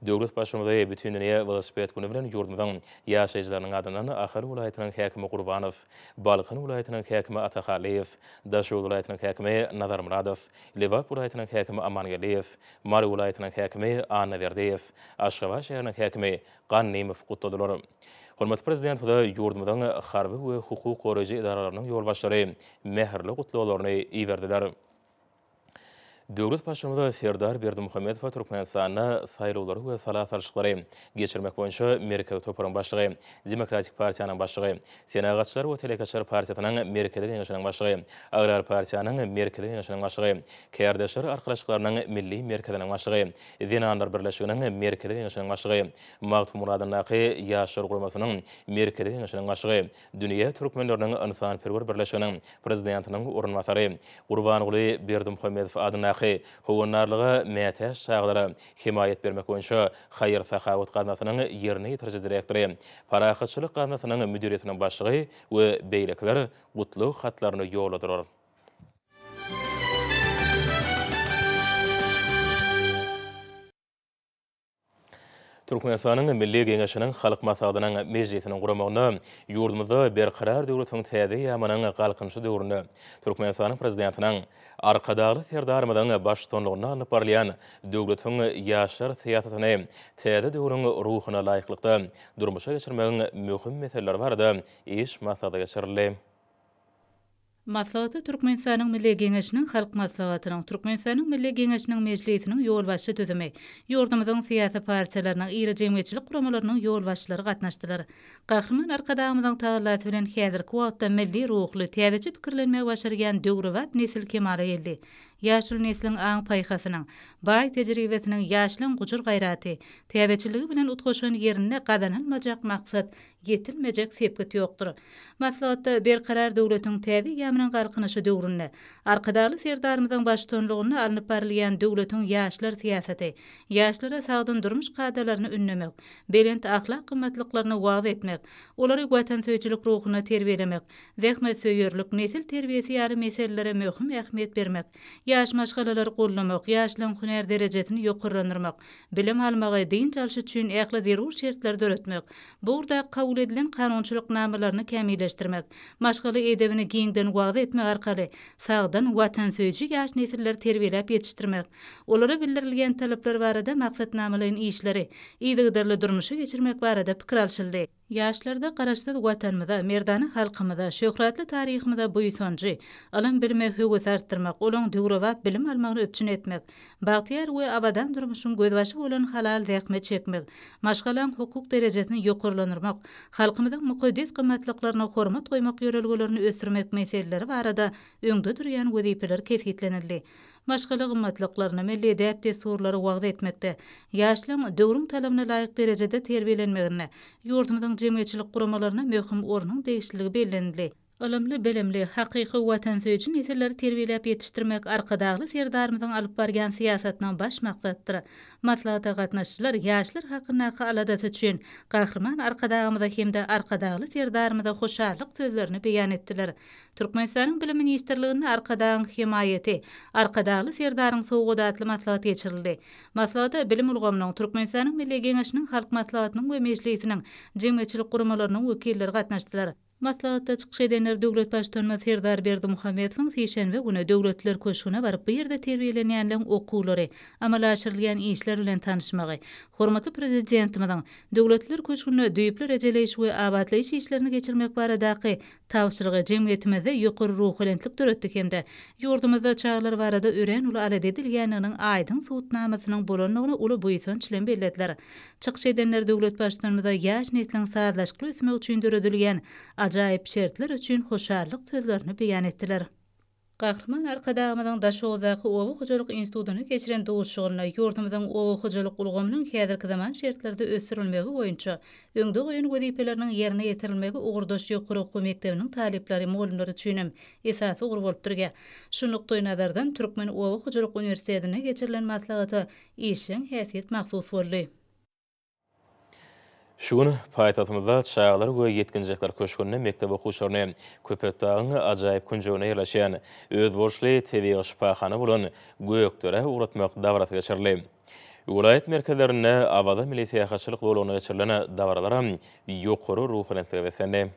Döwlet Baştutanymy Bütindünýä welosiped güni bilen ýurdumyzyň ýaşaýjylarynyň adyndan Ahal welaýatynyň häkimi Gurbanow, Balkan welaýatynyň häkimi Atahallyýew, Daşoguz welaýatynyň häkimi Nazarmyradow, Lebap welaýatynyň häkimi Amangeldiýew, Mary welaýatynyň häkimi Annaberdiýew, Aşgabat şäheriniň häkimi Gannymow gutladylar. Hormatly Prezidentimize ýurdumyzyň harby we hukuk goraýjy edaralarynyň ýolbaşçylary mähirli gutlaglaryny iberdiler. Döwlet Baştutanyz Serdar Berdimuhamedowa Türkmenistanda saýlawlary we sala salşyklary geçirmek boýunça Merkezi toparyň başlygy, Demokratik partiýanyň başlygy, Senagatçylar we telekeçiler partiýasynyň Merkezi Geňeşiniň başlygy, Agrar partiýanyň Merkezi Geňeşiniň başlygy, Kärdeşler arkalaşyklarynyň Milli merkeziniň başlygy, Zenanlar birleşiginiň Merkezi Geňeşiniň başlygy, Magtymguradyndaky Ýaşlar guramasynyň Merkezi Geňeşiniň başlygy, Dünýä türkmenleriniň ynsanperwer birleşiginiň prezidentiniň orunbasary, Gurbanguly Berdimuhamedow adyndaky Howandarlyga mätäç çagalara hemaýat bermek boýunça haýyr-sahawat gaznasynyň ýerine ýetiriji direktory, Parahatçylyk gaznasynyň müdiriýetiniň başlygy we beýlekiler Gutlug hatlaryny ýolladylar. Türkmenistanyň Milli Geňeşiniň Halk Maslahatynyň mejlisiniň guramagynda ýurdumyzda Berkarar döwletiň täze eýýamynyň Galkynyşy döwründe Türkmenistanyň Prezidentiniň, Arkadagly Serdarymyzyň baştutanlygynda alnyp barylýan döwletiň ýaşlar syýasatyny täze döwrüň ruhuna laýyklykda durmuşa geçirmegiň möhüm meseleleri barada iş maslahaty geçirildi. Maslahata Türkmenistanyň Milli Geňeşiniň Halk Maslahatynyň, Türkmenistanyň Milli Geňeşiniň Mejlisiniň ýolbaşçy düzümi, ýurdumyzyň syýasy partiýalarynyň, iri jemgyýetçilik guramalarynyň ýolbaşçylary gatnaşdylar. Gahryman Arkadagymyzyň tagallasy bilen häzirki wagtda milli ruhly, täzeçe pikirlenmegi başarýan döwrebap nesil kemala geldi. Ýaşuly nesliň aň-paýhasynyň, baý tejribesiniň, ýaşlaň gujur-gaýraty, täzeçilligi bilen utgaşan ýerinde gazanylmajak maksat ýetilmejek sepgit ýokdur. Maslahatda Berkarar döwletiň täze eýýamynyň Galkynyşy döwründe Arkadagly Serdarymyzyň baştutanlygynda alnyp barylýan döwletiň ýaşlar syýasaty, ýaşlara sagdyn durmuş kadalaryny ündemek, belent ahlak gymmatlyklaryny wagyz etmek, olary watansöýüjilik ruhunda terbiýelemek, zähmetsöýerlik, nesil terbiýesi ýaly meselelere möhüm ähmiýet bermek, Ýaş maşgalalary goldamak, ýaşlaryň hünär derejesini ýokarlandyrmak, bilim almagy, dynç alşy üçin ähli zerur şertleri döretmek, bu ugurdaky kabul edilen kanunçylyk namalaryny kämilleşdirmek, maşgala edebini giňden wagyz etmek arkaly sagdyn, watansöýüji ýaş nesilleri terbiýeläp ýetişdirmek, olara bildirilýän talaplar barada maksatnamalaýyn işleri yzygiderli durmuşa geçirmek barada pikir alşyldy. Ýaşlarda Garaşsyz Watanymyza, merdana halkymyza, şöhratly taryhymyza buýsanjy, ylym-bilime höwesi artdyrmak, olaň döwrebap bilim almagyny üpjün etmek, bagtyýar we abadan durmuşyň gözbaşy bolan halal zähmet çekmek, maşgalaň hukuk derejesini ýokarlandyrmak, halkymyzyň mukaddes gymmatlyklaryna hormat goýmak ýörelgelerini ösdürmek meseleleri barada öňde durýan wezipeler kesgitlenildi. maşgala gymmatlyklaryny, milli däp-dessurlary wagyz etmekde, ýaşlaryň döwrüň talabyna laýyk derejede terbiýelenmeginde ýurdumyzyň jemgyýetçilik guramalaryna möhüm ornuň degişliligi bellenildi. Ylymly-bilimli, hakyky watansöýüji nesilleri terbiýeläp ýetişdirmek Arkadagly Serdarymyzyň alyp barýan syýasatynyň baş maksadydyr. Maslahata gatnaşyjylar ýaşlar hakyndaky aladasy üçin Gahryman Arkadagymyza hem-de Arkadagly Serdarymyza hoşallyk sözlerini beýan etdiler. Türkmenistanyň Bilim ministrliginde Arkadagyň hemaýaty, Arkadagly Serdaryň sowgady atly maslahat geçirildi. Maslahata bilim ulgamynyň, Türkmenistanyň Milli Geňeşiniň Halk Maslahatynyň we Mejlisiniň, jemgyýetçilik guramalarynyň wekilleri gatnaşdylar. Maslahatda çykyş edenler döwlet Baştutanymyz Serdar Berdimuhamedowyň sişenbe güni Döwletler köşgüne baryp bu ýerde terbiýelenýänleň okuwlary, amala aşyrylýan işler bilen tanyşmagy, hormatly Prezidentimiziň Döwletler köşgünde düýpli rejeleýiş we abatlaýyş işlerini geçirmek baradaky Tabşyrygy jemgyýetimizde ýokary ruhubelentlik döretdi hem-de ýurdumyzda çagalar barada örän uly alada edilýändiginiň aýdyň subutnamasynyň bolandygyny uly buýsanç bilen bellediler. Çykyş edenler döwlet Baştutanymyza ýaş nesliň sazlaşykly ösmegi üçin döredilýän ajaýyp şertler üçin hoşallyk sözlerini beýan etdiler. Gahryman Arkadagymyzyň Daşoguzdaky Oba hojalyk institutynda geçiren duşuşygynda ýurdumyzyň oba hojalyk ulgamynyň häzirki zaman şertlerde ösdürilmegi boýunça öňde goýan wezipeleriniň ýerine ýetirilmegi ugurdaş ýokary okuw mekdebiniň talyplary, mugallymlary üçin hem esasy ugur bolup durýa. Şu nukdaýnazardan Türkmen oba hojalyk uniwersitetinde geçirilen maslahata işjeň häsiýet mahsus boldy. Şu gün paýtagtymyzda Çagalar we ýetginjekler köşgünde mekdep okuwçylaryny Köpetdagyň ajaýyp künjeginde ýerleşýän özboluşly tebigy şypahana bolan Gökderä ugratmak dabarasy geçirildi. Welaýat merkezlerinde Awaza milli syýahatçylyk zolagynda geçirilen dabaralaram ýokary ruhubelentlige beslendi.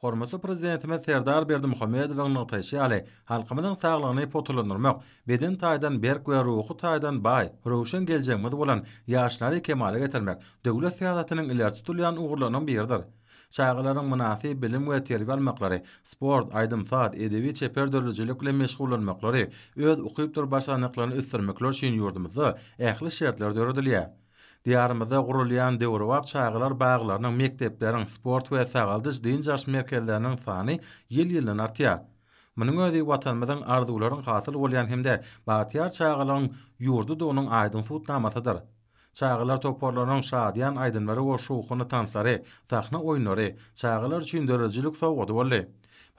Hormatly Prezidentimiz Serdar Berdimuhamedowyň nygtaýşy ýaly, halkymyzyň saglygyny pugtalandyrmak, beden taýdan berk we ruhy taýdan baý, röwşen geljegimiz bolan ýaşlary kemala getirmek döwlet syýasatynyň ileri tutulýan ugurlarynyň biridir. Çagalaryň mynasyp bilim we terbiýe almaklary, sport, aýdym-saz, edebi-çeper döredijilik bilen meşgullanmaklary, öz ukypdyr başarnyklaryny ösdürmekleri üçin ýurdumyzda ähli şertler döredilýär. Diýarymyzda gurulýan döwrebap çagalar baglarynyň, mekdepleriň, sport we sagaldyş, dynç alyş merkezleriniň sany ýyl-ýyldan artýar. Munuň özi Watanymyzyň arzuwlaryň hasyl bolýan hem-de bagtyýar çagalygyň ýurdudygynyň aýdyň subutnamasydyr. Çagalar toparlarynyň şadyýan aýdymlary we şowhunly tanslary, sahna oýunlary çagalar üçin döredijilik sowgady boldy.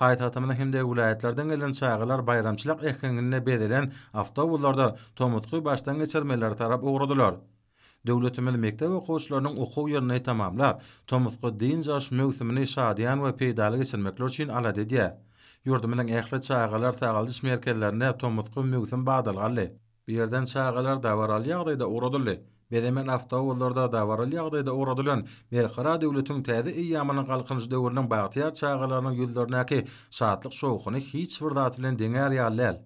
Paýtagtymyzdan hem-de welaýatlardan gelen çagalar baýramçylyk äheňinde bezelen awtobuslarda tomusky başdan geçirmelere tarap ugradylar. Döwletimiz mekdep okuwçylarynyň okuw ýylyny tamamlap, tomusky dynç alyş möwsümini şadyýan we peýdaly geçirmekleri üçin alada edýär. Ýurdumyzyň ähli çagalar sagaldyş merkezlerinde tomusky möwsüm badalga aldy. Bu ýerden çagalar dabaraly ýagdaýda ugradyldy. Bezemen awtobuslarda dabaraly ýagdaýda ugradylan Berkarar döwletiň täze eýýamynyň Galkynyş döwrüniň bagtyýar çagalarynyň ýüzlerindäki şatlyk-şowhuny hiç bir zat bilen deňär ýaly däl.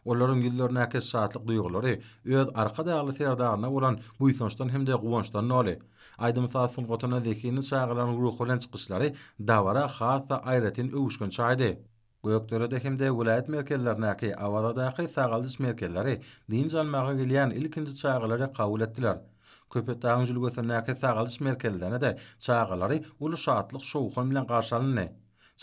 Olaryň ýüzlerindäki şatlyk duýgulary öz Arkadagly Serdaryna bolan buýsançdan hem-de guwançdan doly. Aýdym-saz sungatyna zehinli çagalaryň ruhubelent çykyşlary dabara has-da aýratyn öwüşgin çaýdy. Gökderede hem-de welaýat merkezlerindäki Awazadaky sagaldyş merkezleri dynç almaga gelýän ilkinji çagalary kabul etdiler. Köpetdagyň jülgesindäki sagaldyş merkezlerinde-de çagalary uly şatlyk-şowhun bilen garşy alyndy.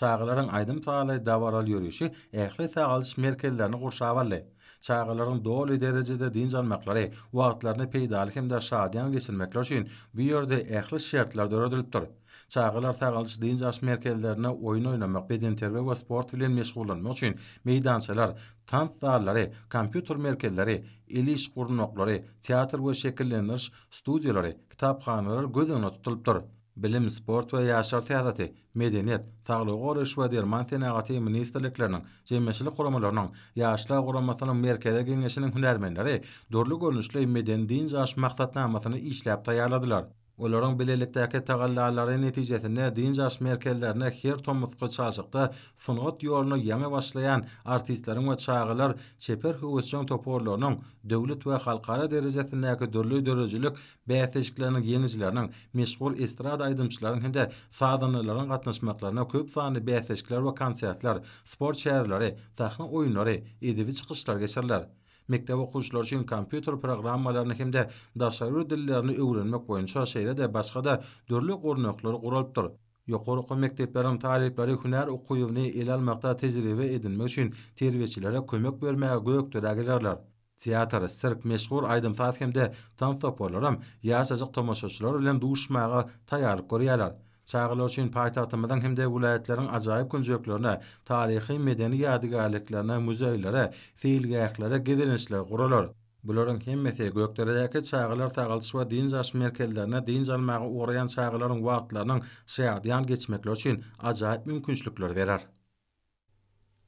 Çagalaryň aýdym-sazly, dabaraly ýörişi ähli sagaldyş merkezlerini gurşap aldy. Çagalaryň doly derejede dynç almaklary, wagtlaryny peýdaly hem-de şadyýan geçirmekleri üçin bu ýerde ähli şertler döredilipdir. Çagalar sagaldyş-dynç alyş merkezlerinde oýun oýnamak, bedenterbiýe we sport bilen meşgullanmak üçin meýdançalar, tans zallary, kompýuter merkezleri, el iş gurnaklary, teatr we şekillendiriş studiýalary, kitaphanalar göz öňünde tutulypdyr. Bilim, sport we ýaşlar syýasaty, medeniýet, saglygy goraýyş we derman senagaty ministrlikleriniň, jemgyýetçilik guramalarynyň, Ýaşlar guramasynyň Merkezi Geňeşiniň hünärmenleri dürli görnüşli medeni-dynç alyş maksatnamasyny işläp taýýarladylar. Olaryň bilelikdäki tagallalary netijesinde dynç-alyş merkezlerine her tomusky çalşykda sungat ýoluna ýaňy başlaýan artistleriň we çagalar çeper höwesjeň toparlarynyň döwlet we halkara derejesindäki dürli döredijilik bäsleşikleriniň ýeňijileriniň, meşhur estrada aýdymçylaryň hem-de sazandalaryň gatnaşmaklaryna köp sanly bäsleşikler we konsertler, sport çäreleri, sahna oýunlary, edebi çykyşlar geçiriler. Mekdep okuwçylary üçin kompýuter programmalaryny hem-de daşary bir dillerini öwrenmek boýunça şeýle-de başga-da dürli gurnaklar guralypdyr. Ýokary okuw mekdepleriň talyplary hünär okuwyny ele almakda tejribe edinmek üçin terbiýeçilere kömek bermäge Gökderä gelerler. Teatr, sirk, meşhur aýdym-saz hem-de tans toparlaram ýaşajyk tomaşaçylar bilen duşuşmaga taýýarlyk görýärler. Çagalar üçin paýtagtymyzyň hem-de welaýatlaryň ajaýyp künjeklerine, taryhy-medeni ýadygärliklerine, muzeýlere, seýilgählere gezelençler guralar. Bularyň hemmesi Gökderedäki çagalar sagaldyş we dynç alyş merkezlerine dynç almaga ugraýan çagalaryň wagtlarynyň şadyýan geçmekleri üçin ajaýyp mümkinçilikleri berer.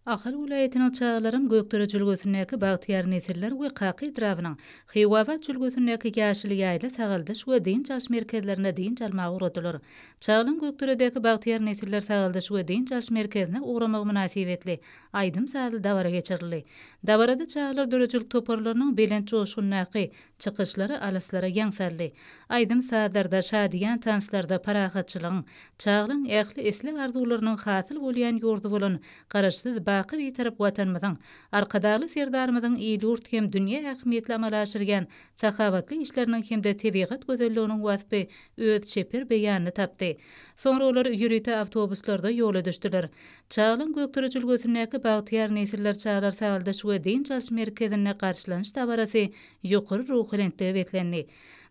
Ahal welaýatynyň çagalaryň Gökdere jülgesindäki Bagtyýar nesiller we Kaka etrabynyň Hiwabat jülgesindäki Ýaşyl ýaýla sagaldyş we dynç alyş merkezlerinde dynç almaga ugradylar. Çagalaryň Gökderedäki Bagtyýar nesiller sagaldyş we dynç alyş merkezine ugramagy mynasybetli aýdym-sazly dabara geçirildi. Dabarada çagalar döredijilik toparlarynyň belent joşgundaky Çykyşlary alyslara ýaňsaldy. Aýdym-sazlarda, şadyýan tanslarda parahatçylygyň, çaglygyň, ähli isleg-arzuwlarynyň hasyl bolýan ýurdy bolan Garaşsyz, baky Bitarap Watanymyzyň, Arkadagly Serdarymyzyň il-ýurt hem dünýä ähmiýetli amala aşyrýan sahawatly işleriniň hem-de tebigat gözelliginiň waspy öz çeper beýanyny tapdy. Soňra olar ýörite awtobuslarda ýola düşdüler. Çaglyň Gökdepe jülgesindäki Bagtyýar nesiller çagalar sagaldyş we dynç alyş merkezinde garşylanyş dabarasy ýokary ruhubelentlige beslendi.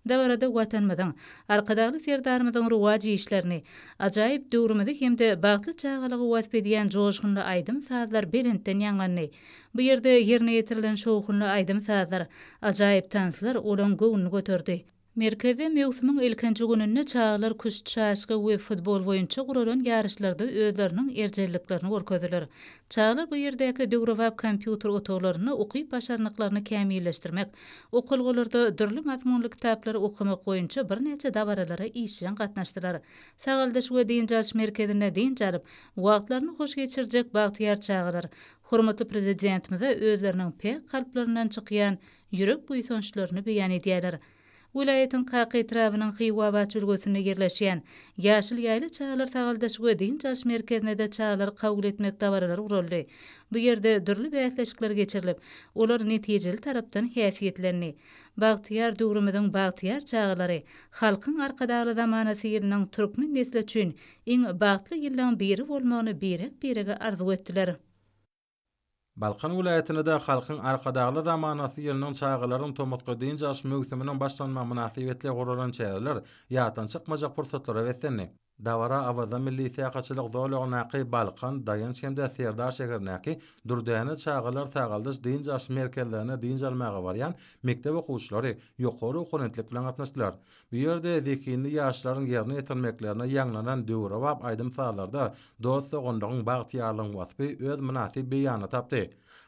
Dabarada Watanymyzyň, Arkadagly Serdarymyzyň rowaç işlerini, ajaýyp döwrümizi hem-de bagtly çagalygy wasp edýän joşgunly aýdym-sazlar belentden ýaňlandy. Bu ýerde ýerine ýetirilen şowhunly aýdym-sazlar, ajaýyp tanslar olaň göwnüni göterdi. Merkezde möwsümiň ilkinji gününde çagalar küşt, çaşka we futbol boýunça guralan ýaryşlarda özleriniň erjelliklerini görkezdiler. Çagalar bu ýerdäki döwrebap kompýuter otaglarynda ukyp-başarnyklaryny kämilleşdirmek, okalgalarda dürli mazmunly kitaplary okamak boýunça birnäçe dabaralara işjeň gatnaşdylar. Sagaldyş we dynç alyş merkezinde dynç alyp, wagtlaryny hoş geçirjek bagtyýar çagalar hormatly Prezidentimize özleriniň päk kalplaryndan çykýan ýürek buýsançlaryny beýan edýärler. Welaýatyň Kaka etrabynyň Hywabat jülgesinde ýerleşýän Ýaşyl ýaýla çagalar sagaldyş we dynç alyş merkezinde-de çagalary kabul etmek dabaralary guraldy. Bu ýerde dürli bäsleşikler geçirilip, olar netijeli tarapdan häsiýetlendi. Bagtyýar döwrümiziň bagtyýar çagalary, Halkyň Arkadagly zamanasy ýylynyň türkmen nesli üçin iň bagtly ýyllaryň biri bolmagyny birek-birege arzuw etdiler. Balkan welaýatynda-da Halkyň Arkadagly zamanasy ýylynyň çagalaryň tomusky dynç alyş möwsüminiň başlanmagy mynasybetli guralan çäreler ýatdan çykmajak pursatlara beslendi. Dabara Awaza milli syýahatçylyk zolagyndaky Balkan, Daýanç hem-de Serdar şäherindäki Dürdäne çagalar sagaldyş dynç alyş merkezlerine dynç almaga barýan mekdep okuwçylary ýokary okonentlik bilen gatnaşdylar. Bu ýerde zehinli ýaşlaryň ýerine ýetirmeklerine ýaňlanan döwrebap aýdym-sazlarda dost-doganlygyň, bagtyýarlygyň waspy öz mynasyp beýanyny tapdy.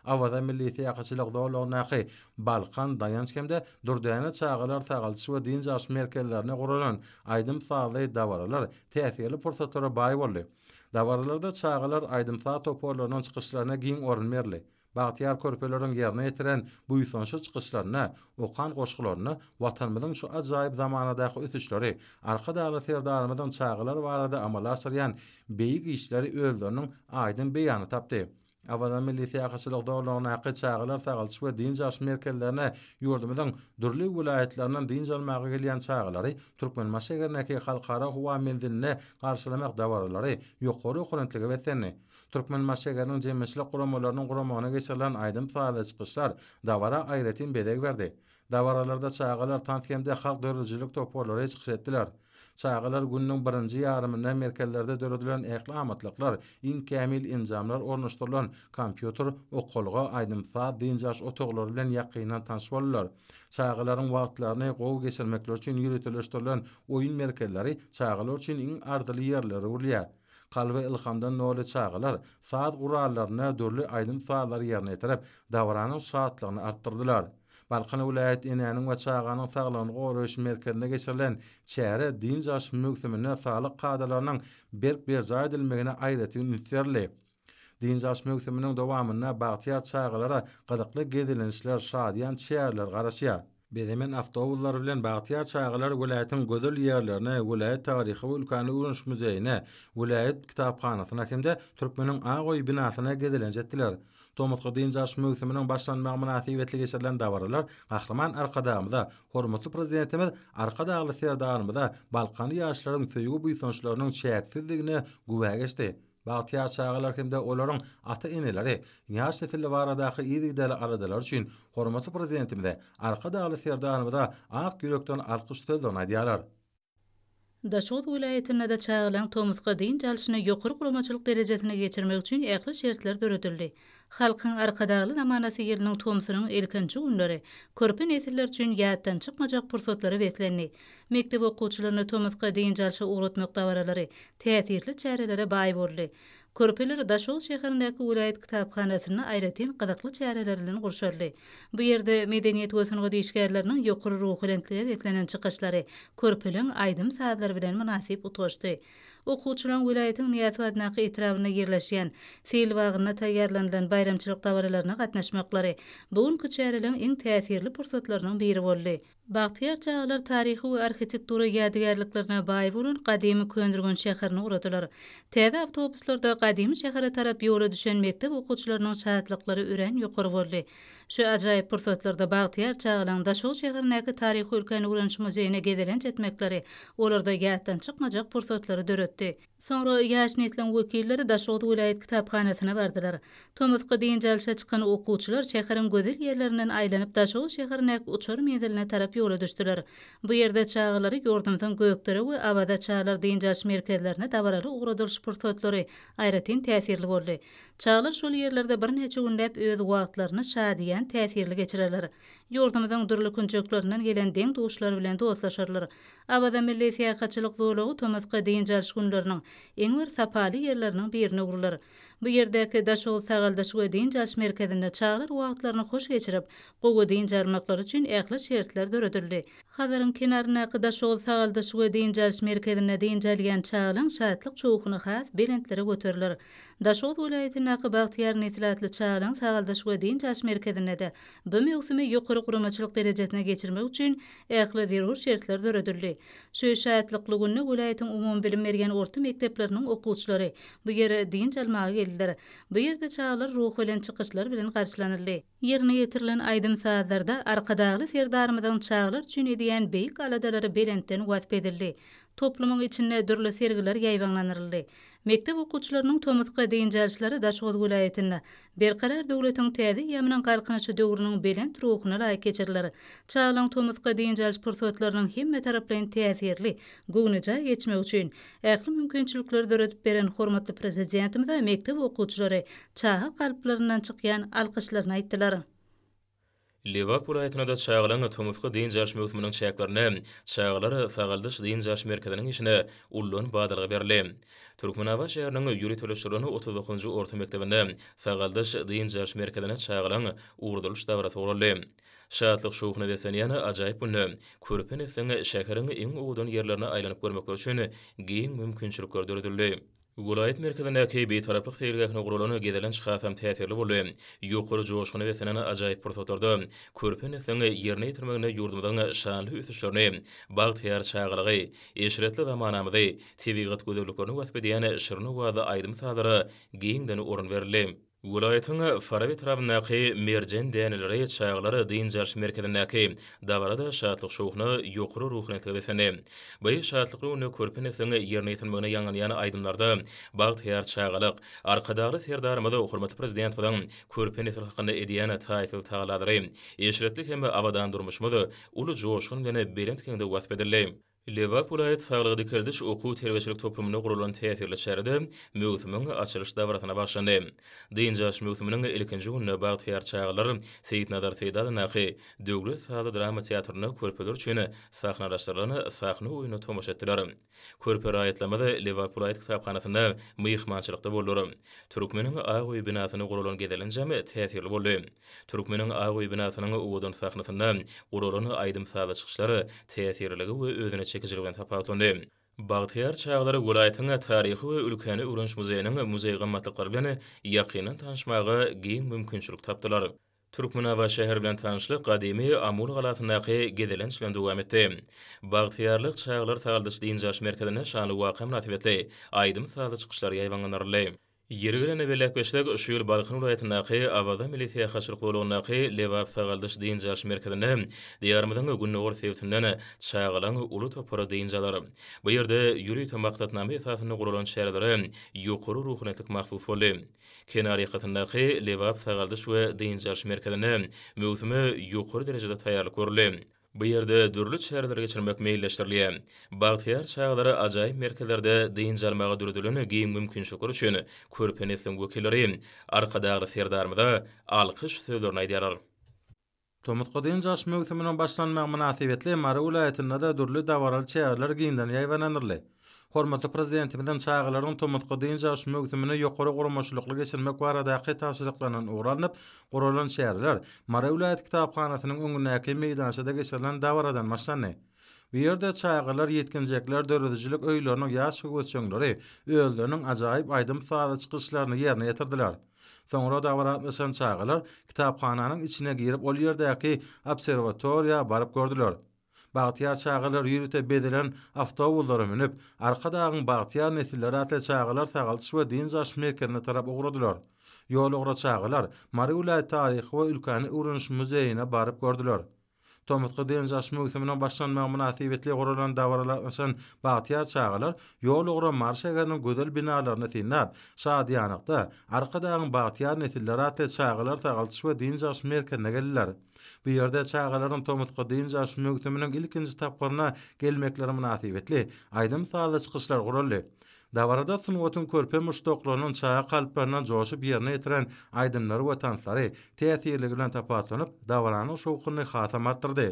Awaza milli syýahatçylyk zolagyndaky Balkan, Daýanç hem-de Dürdäne çagalar sagaldyş we dynç alyş merkezlerinde guralan aýdym-sazly dabaralar täsirli pursatlara baý boldy. Dabaralarda çagalar aýdym-saz toparlarynyň çykyşlaryna giň orun berildi. Bagtyýar körpeleriň ýerine ýetiren buýsançly çykyşlarynda, okan goşgularynda Watanymyzyň şu ajaýyp zamanadaky ösüşleri, Arkadagly Serdarymyzyň çagalar barada amala aşyrýan beýik işleri özleriniň aýdyň beýanyny tapdy. Awaza milli syýahatçylyk zolagyndaky çagalar sagaldyş we dynç alyş merkezlerine ýurdumyzyň dürli welaýatlaryndan dynç almaga gelýän çagalary Türkmenbaşy şäherindäki Halkara howa menziline garşylamak dabaralary ýokary okurentlige beslendi. Türkmenbaşşägeriniň jemgyýetçilik guramalarynyň guramagyna geçirilen aýdym-sazly çykyşlar dabara aýratyn bezeg berdi. Dabaralarda çagalar tans hem-de halk döredijilik toparlary çykyş etdiler. Çagalar gününiň birinji ýarymynda merkezlerde döredilen ähli amatlyklar, iň kämil enjamlar ornaşdyrylan kompýuter, okalga, aýdym-saz, dynç alyş otaglary bilen ýakyndan tanyş boldular. Çagalaryň wagtlaryny gowy geçirmekleri üçin ýöriteleşdirilen oýun merkezleri çagalar üçin iň arzyly ýerlere öwrülýär. Kalby ylhamdan doly çagalar saz gurallarynda dürli aýdym-sazlary ýerine ýetirip, dabaranyň şatlygyny artdyrdylar. Balkan welaýat Enäniň we çaganyň saglygyny goraýyş merkezinde geçirilen çäre dynç alyş möwsüminde saglyk kadalarynyň berk berjaý edilmegine aýratyn üns berildi. Dynç alyş möwsüminiň dowamynda bagtyýar çagalara gyzykly gezelençler, şadyýan çäreler garaşýar. Bezemen awtobuslar bilen bagtyýar çagalar welaýatyň gözel ýerlerine, welaýat taryhy we ülkäni öwreniş muzeýine, welaýat kitaphanasyna hem-de Türkmeniň ak öýi binasyna gezelenç etdiler. Tomusky dynç alyş möwsüminiň başlanmagy mynasybetli geçirilen dabaralar Gahryman Arkadagymyza, hormatly Prezidentimiz Arkadagly Serdarymyza balkanly ýaşlaryň söýgi-buýsançlarynyň çäksizdigine güwä geçdi. Bagtyýar çagalar hem-de olaryň ata-eneleri ýaş nesil baradaky yzygiderli aladalary üçin hormatly Prezidentimize, Arkadagly Serdarymyza ak ýürekden alkyş sözlerini aýdýarlar. Daşoguz welaýatynda-da çagalaryň tomusky dynç alşyny ýokary guramaçylyk derejesinde geçirmek üçin ähli şertler döredildi. Halkyň Arkadagly zamanasy ýylynyň tomsunyň ilkinji günleri körpe nesiller üçin ýatdan çykmajak pursatlara beslendi. Mekdep okuwçylaryny tomusky dynç alşa ugratmak dabaralary täsirli çärelere baý boldy. Körpeler Daşoguz şäherindäki welaýat kitaphanasynda aýratyn gyzykly çäreler bilen gurşaldy. Bu ýerde medeniýet we sungat işgärleriniň ýokary ruhubelentlige beslenen çykyşlary körpeleň aýdym-sazlary bilen mynasyp utgaşdy. Okuwçylaryň welaýatyň Nyýazow adyndaky etrabynda ýerleşýän Sil bagynda taýýarlanylan baýramçylyk dabaralaryna gatnaşmaklary bu günki çäreleň iň täsirli pursatlarynyň biri boldy. Bagtyýar çagalar taryhy we arhitektura ýadygärliklerine baý bolan gadymy Köneürgenç şäherini ugradylar. Täze awtobuslarda gadymy şähere tarap ýola düşen mekdep okuwçylarynyň şatlyklary örän ýokary boldy. Şu ajaýyp pursatlarda bagtyýar çagalaryň Daşoguz şäherindäki Taryhy-ülkäni öwreniş muzeýine gezelenç etmekleri olarda ýatdan çykmajak pursatlary döretdi. Soňra ýaş nesliň wekilleri Daşoguz welaýat kitaphanasyna bardylar. Tomusky dynç alşa çykan okuwçylar şäheriň gözel ýerlerinden aýlanyp Daşoguz şäherindäki uçar menziline tarap ýola düşdüler. Bu ýerde çagalary ýurdumyzyň Gökdere we Awaza çagalar dynç alyş merkezlerine dabaraly ugradylyş pursatlary aýratyn täsirli boldy. Çagalar şol ýerlerde birnäçe günläp öz wagtlaryny şadyýan, täsirli geçirerler. Ýurdumyzyň dürli künjeklerinden gelen deň-duşlar bilen dostlaşarlar. Awaza milli syýahatçylyk zolagy tomusky dynç alyş günleriniň iň bir sapaly ýerleriniň birine öwrüler. Bu ýerdäki Daşoguz sagaldyş we dynç alyş merkezinde çagalar wagtlaryny hoş geçirip, gowy dynç almaklary üçin ähli şertler döredildi. Hazaryň kenaryndaky Daşoguz sagaldyş we dynç alyş merkezinde dynç alýan çagalaň şatlyk şowhuny has belentlere göteriler. Daşoguz welaýatyndaky Bagtyýar nesil atly çagalar sagaldyş we dynç alyş merkezinde-de bu möwsümi ýokary guramaçylyk derejesine geçirmek üçin ähli zerur şertler döredildi. Şu şatlykly günde welaýatyň umumybilim berýän orta mekdepleriniň okuwçylary bu ýere dynç almaga geldiler. Bu ýerde çagalar ruhubelent çykyşlar bilen garşylanyldy. Ýerine ýetirilen aýdym-sazlarda Arkadagly Serdarymyzyň çagalar üçin edýän beýik aladalary belentden wasp edildi. Toplumyň içinde dürli sergiler ýaýbaňlandyryldy. Mekdep okuwçylarynyň tomusky dynç alşlary Daşoguz welaýatynda Berkarar döwletiň täze eýýamynyň Galkynyşy döwrüniň belent ruhuna laýyk geçiriler. Çagalaryň tomusky dynç alyş pursatlarynyň hemmetaraplaýyn täsirli, göwnejaý geçmegi üçin, Ähli mümkinçilikleri döredip beren hormatly Prezidentimize mekdep okuwçylary çaga kalplaryndan çykýan alkyşlaryny aýtdylar. Lebap welaýatynda-da çagalaryň tomusky dynç alyş möwsüminiň çäklerinde çagalar sagaldyş-dynç alyş merkeziniň işine ullan badalga berildi. Türkmenabat şäheriniň ýöriteleşdirilen otuz dokuzynjy orta mekdebinde sagaldyş-dynç alyş merkezine çagalaryň ugradylyş dabarasy guraldy. Şatlyk-şowhuna beslenýän ajaýyp günde, körpe nesliň şäheriň iň owadan ýerlerine aýlanyp görmekleri üçin giň mümkinçilikler döredildi. Welaýat merkezindäki Bitaraplyk seýilgähine guralan gezelenç hasam täsirli boldy. Ýokary joşguna beslenen ajaýyp pursatlarda körpe nesliň ýerine ýetirmeginde ýurdumyzyň şanly ösüşlerini, bagtyýar çagalygy, eşretli zamanamyzy, tebigat gözelliklerini wasp edýän şirin owazly aýdym-sazlara giňden orun berildi. Welaýatyň Faraby etrabyndaky Merjen däneleri çagalar dynç alyş merkezindäki dabara-da şatlyk-şowhuna, ýokary ruhunetlige beslendi. Bu şatlykly günde körpe nesliň ýerine ýetirmegine ýaňlanýan aýdymlarda bagtyýar çagalyk, Arkadagly Serdarymyz, hormatly Prezidentimiziň körpe nesil hakynda edýän taýsyz tagallalary, eşretli hem abadan durmuşymyz uly joşgun bilen belent geňde wasp edildi. Lebap welaýat saglygy-dikeldiş okuw-terbiýeçilik toplumynda guralan täsirli çärede möwsümiň açylyş dabarasyna bagşlandy. Dynç alyş möwsüminiň ilkinji gününde bagtyýar çagalar Seýitnazar Seýdalyndaky Döwlet sazly drama teatrynda körpeler üçin sahnalaşdyrylan sahna oýnuna tomaşa etdiler. Körpe raýatlarymyz Lebap welaýat kitaphanasynda myhmançylykda boldular. Türkmeniň ak öýi binasynda guralan gezelenjem täsirli boldy. Türkmeniň ak öý binasynyň owadan sahnasynda guralan aýdym-sazly çykyşlar täsirliligi we özüne çekijiligi bilen tapawutlandy. Bagtyýar çagalar welaýatyň Taryhy we ülkäni öwreniş muzeýiniň muzeý gymmatlyklary bilen ýakyndan tanyşmaga giň mümkinçilik tapdylar. Türkmenabat şäheri bilen tanyşlyk gadymy Amul galasyndaky gezelenç bilen dowam etdi. Bagtyýarlyk çagalar sagaldyş-dynç alyş merkezinde şanly waka mynasybetli aýdym-sazly çykyşlar ýaýbaňlandyryldy. Ýeri gelende belläpgeçsek, şu ýyl Balkan welaýatyndaky Awaza milli syýahatçylyk zolagyndaky Lebap sagaldyş dynç alyş merkezinde Diýarymyzyň gündogar sebitinden çagalaň uly topary dynç alar. Bu ýerde ýörite maksatnama esasynda guralan çärelere ýokary ruhanyýetlik mahsus boldy. Kenar ýakasyndaky Lebap sagaldyş we dynç alyş merkezinde möwsüme ýokary derejede taýýarlyk görüldi. Bu ýerde dürli çäreleri geçirmek meýilleşdirilýär. Bagtyýar çagalara ajaýyp merkezlerde dynç almaga döredilen giň mümkinçilikler üçin körpe nesliň wekilleri Arkadagly Serdarymyza alkyş sözlerini aýdýarlar. Tomusky dynç alyş möwsüminiň başlanmagy mynasybetli Mary welaýatynda-da dürli dabaraly çäreler giňden ýaýbaňlandyryldy. Hormatly Prezidentimiziň çagalaryň tomusky dynç alyş möwsümini ýokary guramaçylykly geçirmek baradaky tabşyryklaryndan ugur alnyp guralan çäreler Mary welaýat kitaphanasynyň öňündäki meýdançada geçirilen dabaradan başlandy. Bu ýerde çagalar, ýetginjekler, döredijilik öýleriniň ýaş höwesjeňleri özleriniň ajaýyp aýdym-sazly çykyşlaryny ýerine ýetirdiler. Soňra dabara gatnaşan çagalar kitaphananyň içine girip ol ýerdäki obserwatoriýa baryp gördüler. Bagtyýar çagalar ýörite bezelen awtobuslara münüp, Arkadagyň bagtyýar nesilleri atly çagalar sagaldyş we dynç alyş merkezine tarap ugradylar. Ýolugra çagalar Mary welaýat taryhy we ülkäni öwreniş muzeýine baryp gördüler. Tomusky dynç alyş möwsüminiň başlanmagy mynasybetli guralan dabarada gatnaşan bagtyýar çagalar ýolugra Mary şäheriniň gözel binalaryny synlap, şadyýanlykda Arkadagyň bagtyýar nesilleri atly çagalar sagaldyş we dynç alyş merkezine geldiler. Bu ýerde çagalaryň tomusky dynç alyş möwsüminiň ilkinji tapgyryna gelmekleri mynasybetli, aýdym-sazly çykyşlar guraldy. Dabarada sungatyň körpe muşdaklarynyň çaga kalplaryndan joşup ýerine ýetiren aýdymlary we tanslary täsirligi bilen tapawutlanyp, dabaranyň şowhunyny hasam artdyrdy.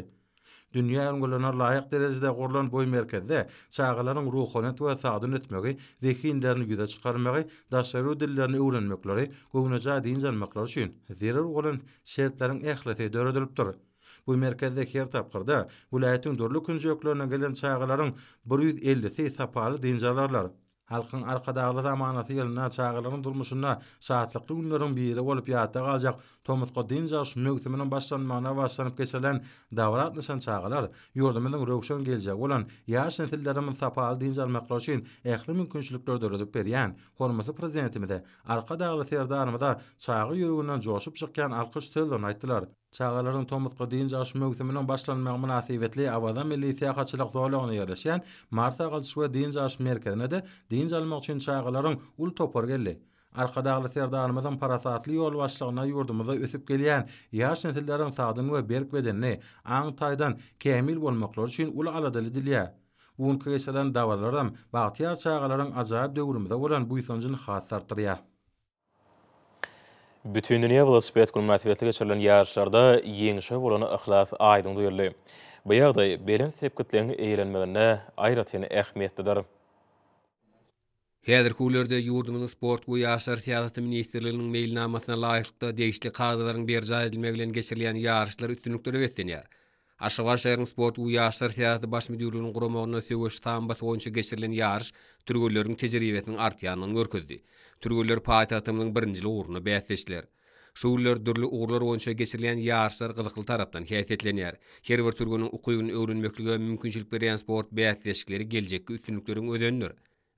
Dünýä ülňülerine laýyk derejede gurlan bu merkezde çagalaryň ruhanyýet we sagdyn ösmegi, zehinlerini ýüze çykarmagy, daşary ýurt dillerini öwrenmekleri, göwnejaý dynç almaklary üçin zerur bolan şertleriň ählisi döredilipdir. Bu merkezde her tapgyrda welaýatyň dürli künjeklerinden gelen çagalaryň bir ýüz ellisi sapaly dynç alarlar. Halkyň Arkadagly zamanasy ýylynda çagalaryň durmuşynda şatlykly günleriň biri bolup ýatda galjak tomusky dynç alyş möwsüminiň başlanmagyna bagyşlanyp geçirilen dabara gatnaşan çagalar ýurdumyzyň röwşen geljegi bolan ýaş nesillerimiz sapaly dynç almaklary üçin ähli mümkinçilikleri döredip berýän hormatly Prezidentimize Arkadagly Serdarymyza çaga ýüreginden joşup çykýan alkyş sözlerini aýtdylar. Çagalaryň tomusky dynç alyş möwsüminiň başlanmagy mynasybetli Awaza milli syýahatçylyk zolagynda ýerleşýän Mary sagaldyş we dynç alyş merkezine-de dynç almak üçin çagalaryň uly topary geldi. Arkadagly Serdarymyzyň parasatly ýolbaşçylygynda ýurdumyzda ösüp gelýän ýaş nesilleriň sagdyn we berk bedenli, aň taýdan kämil bolmaklary üçin uly aladaly edilýär. Bu günki geçirilen dabaralaram bagtyýar çagalaryň ajaýyp döwrümize bolan buýsanjyny has-da artdyrýar. Bütindünýä welosiped güni mynasybetli geçirilen ýaryşlarda ýeňşe bolan yhlas aýdyň duýuldy. Bu ýagdaý belent sepgitleň eýelenmeginde aýratyn ähmiýetlidir. Häzirki günlerde ýurdumyzyň Sport we ýaşlar syýasaty ministrliginiň meýilnamasyna laýyklykda degişli kadalaryň berjaý edilmegi bilen geçirilýän ýaryşlar üstünliklere beslenýär. Aşgabat şäheriniň Sport we ýaşlar syýasaty baş müdirliginiň guramagynda söweş sambasy boýunça geçirilen ýaryş türgenleriň tejribesiniň artýandygyny görkezdi. Türgenler paýtagtymyzyň birinjil ugrunda bäsleşdiler. Şu günler dürli ugurlar boýunça geçirilýän ýaryşlar gyzykly tarapdan häsiýetlenýär. Her bir türgeniň ukybyny öwrenmeklige mümkinçilik berýän sport bäsleşikleri geljekki üstünlikleriň özenidir.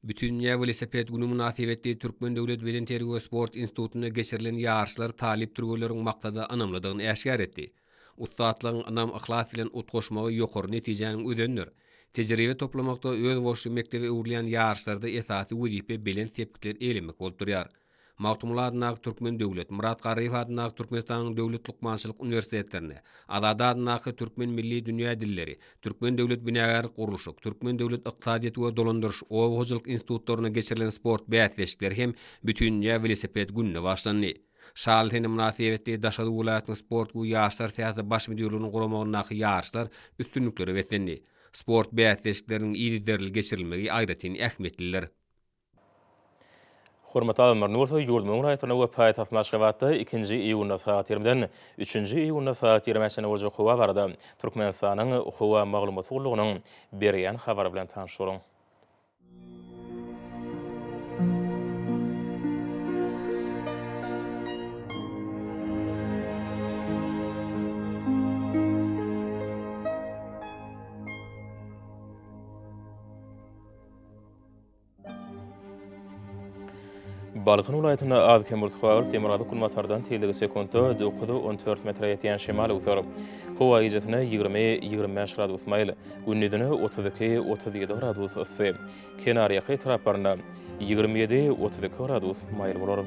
Bütindünýä welosiped güni mynasybetli Türkmen döwlet bedenterbiýe we sport institutynda geçirilen ýaryşlar talyp türgenleriň maksada ynamlydygyny äşgär etdi. Ussatlygyň ynam-yhlas bilen utgaşmagy ýokary netijäniň özenidir. Tejribe toplamakda özboluşly mekdebe öwrülýän ýaryşlarda esasy wezipe belent sepgitler eýlemek bolup durýar. Magtymguly adyndaky Türkmen döwlet, Myrat Garryýew adyndaky Türkmenistanyň döwlet lukmançylyk uniwersitetlerine, Azady adyndaky Türkmen milli dünýä dilleri, Türkmen döwlet binagärlik-gurluşyk, Türkmen döwlet ykdysadyýet we dolandyryş, oba hojalyk institutlaryna geçirilen sport bäsleşikleri hem Bütindünýä welosiped gününe başlandy. Şaly sene mynasybetli Daşoguz welaýatynyň sport we ýaşlar syýasaty baş müdirliginiň guramagyndaky ýaryşlar üstünliklere beslendi. Sport bäsleşikleriniň yzygiderli geçirilmegi aýratyn ähmiýetlidir. Hormatly alymlar, indi bolsa ýurdumyzyň raýatlaryna we paýtagtymyz Aşgabatda ikinji iýunda sagat ýigrimden üçünji iýunda sagat ýigrimi çenli boljak howa barada Türkmenistanyň howa maglumat gullugynyň berýän habary bilen tanyş boluň. Balkan welaýatynda az-kem bultly, demirgazyk günbatardan tizligi sekuntda dokuz, on dört metre ýetýän şemal öwser. Howa gijesine ýigrimi, ýigrimi bäş gradus maýyl, gündizine otuz iki, otuz ýedi gradus yssy, kenarýaka etraplarynda ýigrimi ýedi, otuz iki gradus maýyl bolar.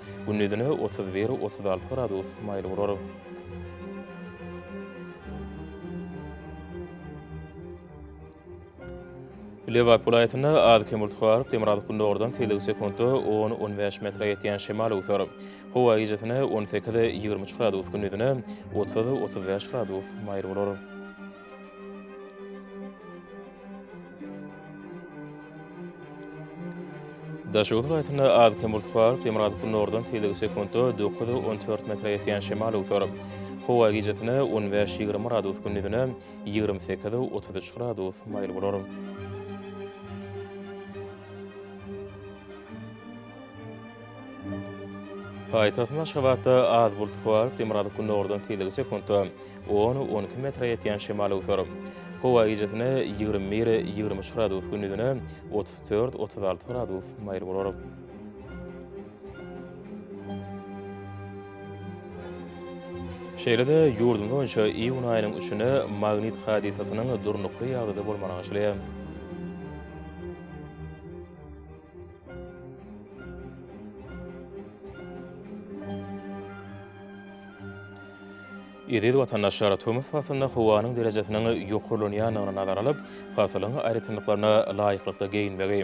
Gündizine otuz bir, otuz alty gradus maýyl bolar. Lebap welaýatynda az-kem bulut garyp, demirgazyk-gündogardan tizligi sekuntda on, on bäş metre ýetýän şemal öwser. Howa gijasine on sekiz, ýigrimi üç gradus, gündizine otuz, otuz bäş gradus maýyl bolar. Daşoguz welaýatynda az-kem bulut bar, demirgazyk-gündogardan tegelegi sekuntda dokuz, on dört metre ýetýän şemal öwser. Howa gijesine on bäş, ýigrimi gradus, gündizine ýigrimi sekiz, otuz üç gradus maýyl bolar. Paýtagtymyz Aşgabatda az bulut bar, demirgazyk-gündogardan tegelegi sekuntda On, on iki metre ýetýän şemal öwser. Howa gijesine ýigrimi bir, ýigrimi üç gradus, gündizine otuz dört, otuz alty gradus maýyl bolar. Şeýle-de, ýurdumyz boýunça iýun aýynyň üçüne magnit hadysasynyň durnukly ýagdaýda bolmagy arzylýar. Eziz watandaşlar, tomus paslynda howanyň derejesiniň ýokarlanýandygyny nazara alyp, pasylyň aýratynlyklaryna laýyklykda geýinmegi,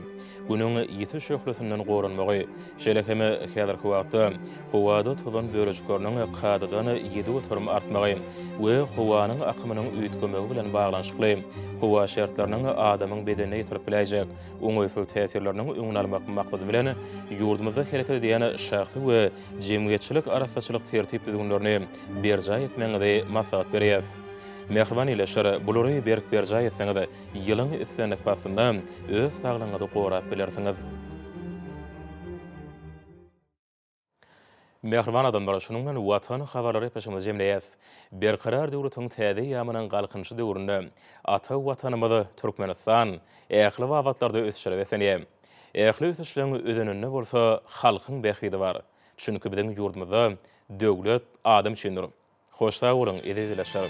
Günüň ýiti şöhlesinden goranmagy, şeýle hem häzirki wagtda howada tozan bölejikleriniň kadadan ýedi göterim artmagy we howanyň akymynyň üýtgemegi bilen baglanyşykly howa şertleriniň adamyň bedenine ýetirip biläýjek oňaýsyz täsirleriniň öňüni almak maksady bilen, ýurdumyzda hereket edýän şahsy we jemgyýetçilik arassaçylyk tertip-düzgünlerini berjaý etmegiňizi maslahat berýäs. Mähriban ildeşler, bulary berk berjaý etseňiz, ýylyň islendik paslynda öz saglygyňyzy gorap bilersiňiz. Mähriban adamlar, şunuň bilen Watan habarlary epesimizi jemleýäs. Berkarar döwletiň täze eýýamynyň Galkynyşy döwründe ata Watanymyz Türkmenistan ähli babatlarda ösüşlere beslenýär. Ähli ösüşleň özeninde bolsa halkyň bähbidi bar. Çünki biziň ýurdumyzda döwlet adam üçindir. Hoş sag boluň, eziz ildeşler!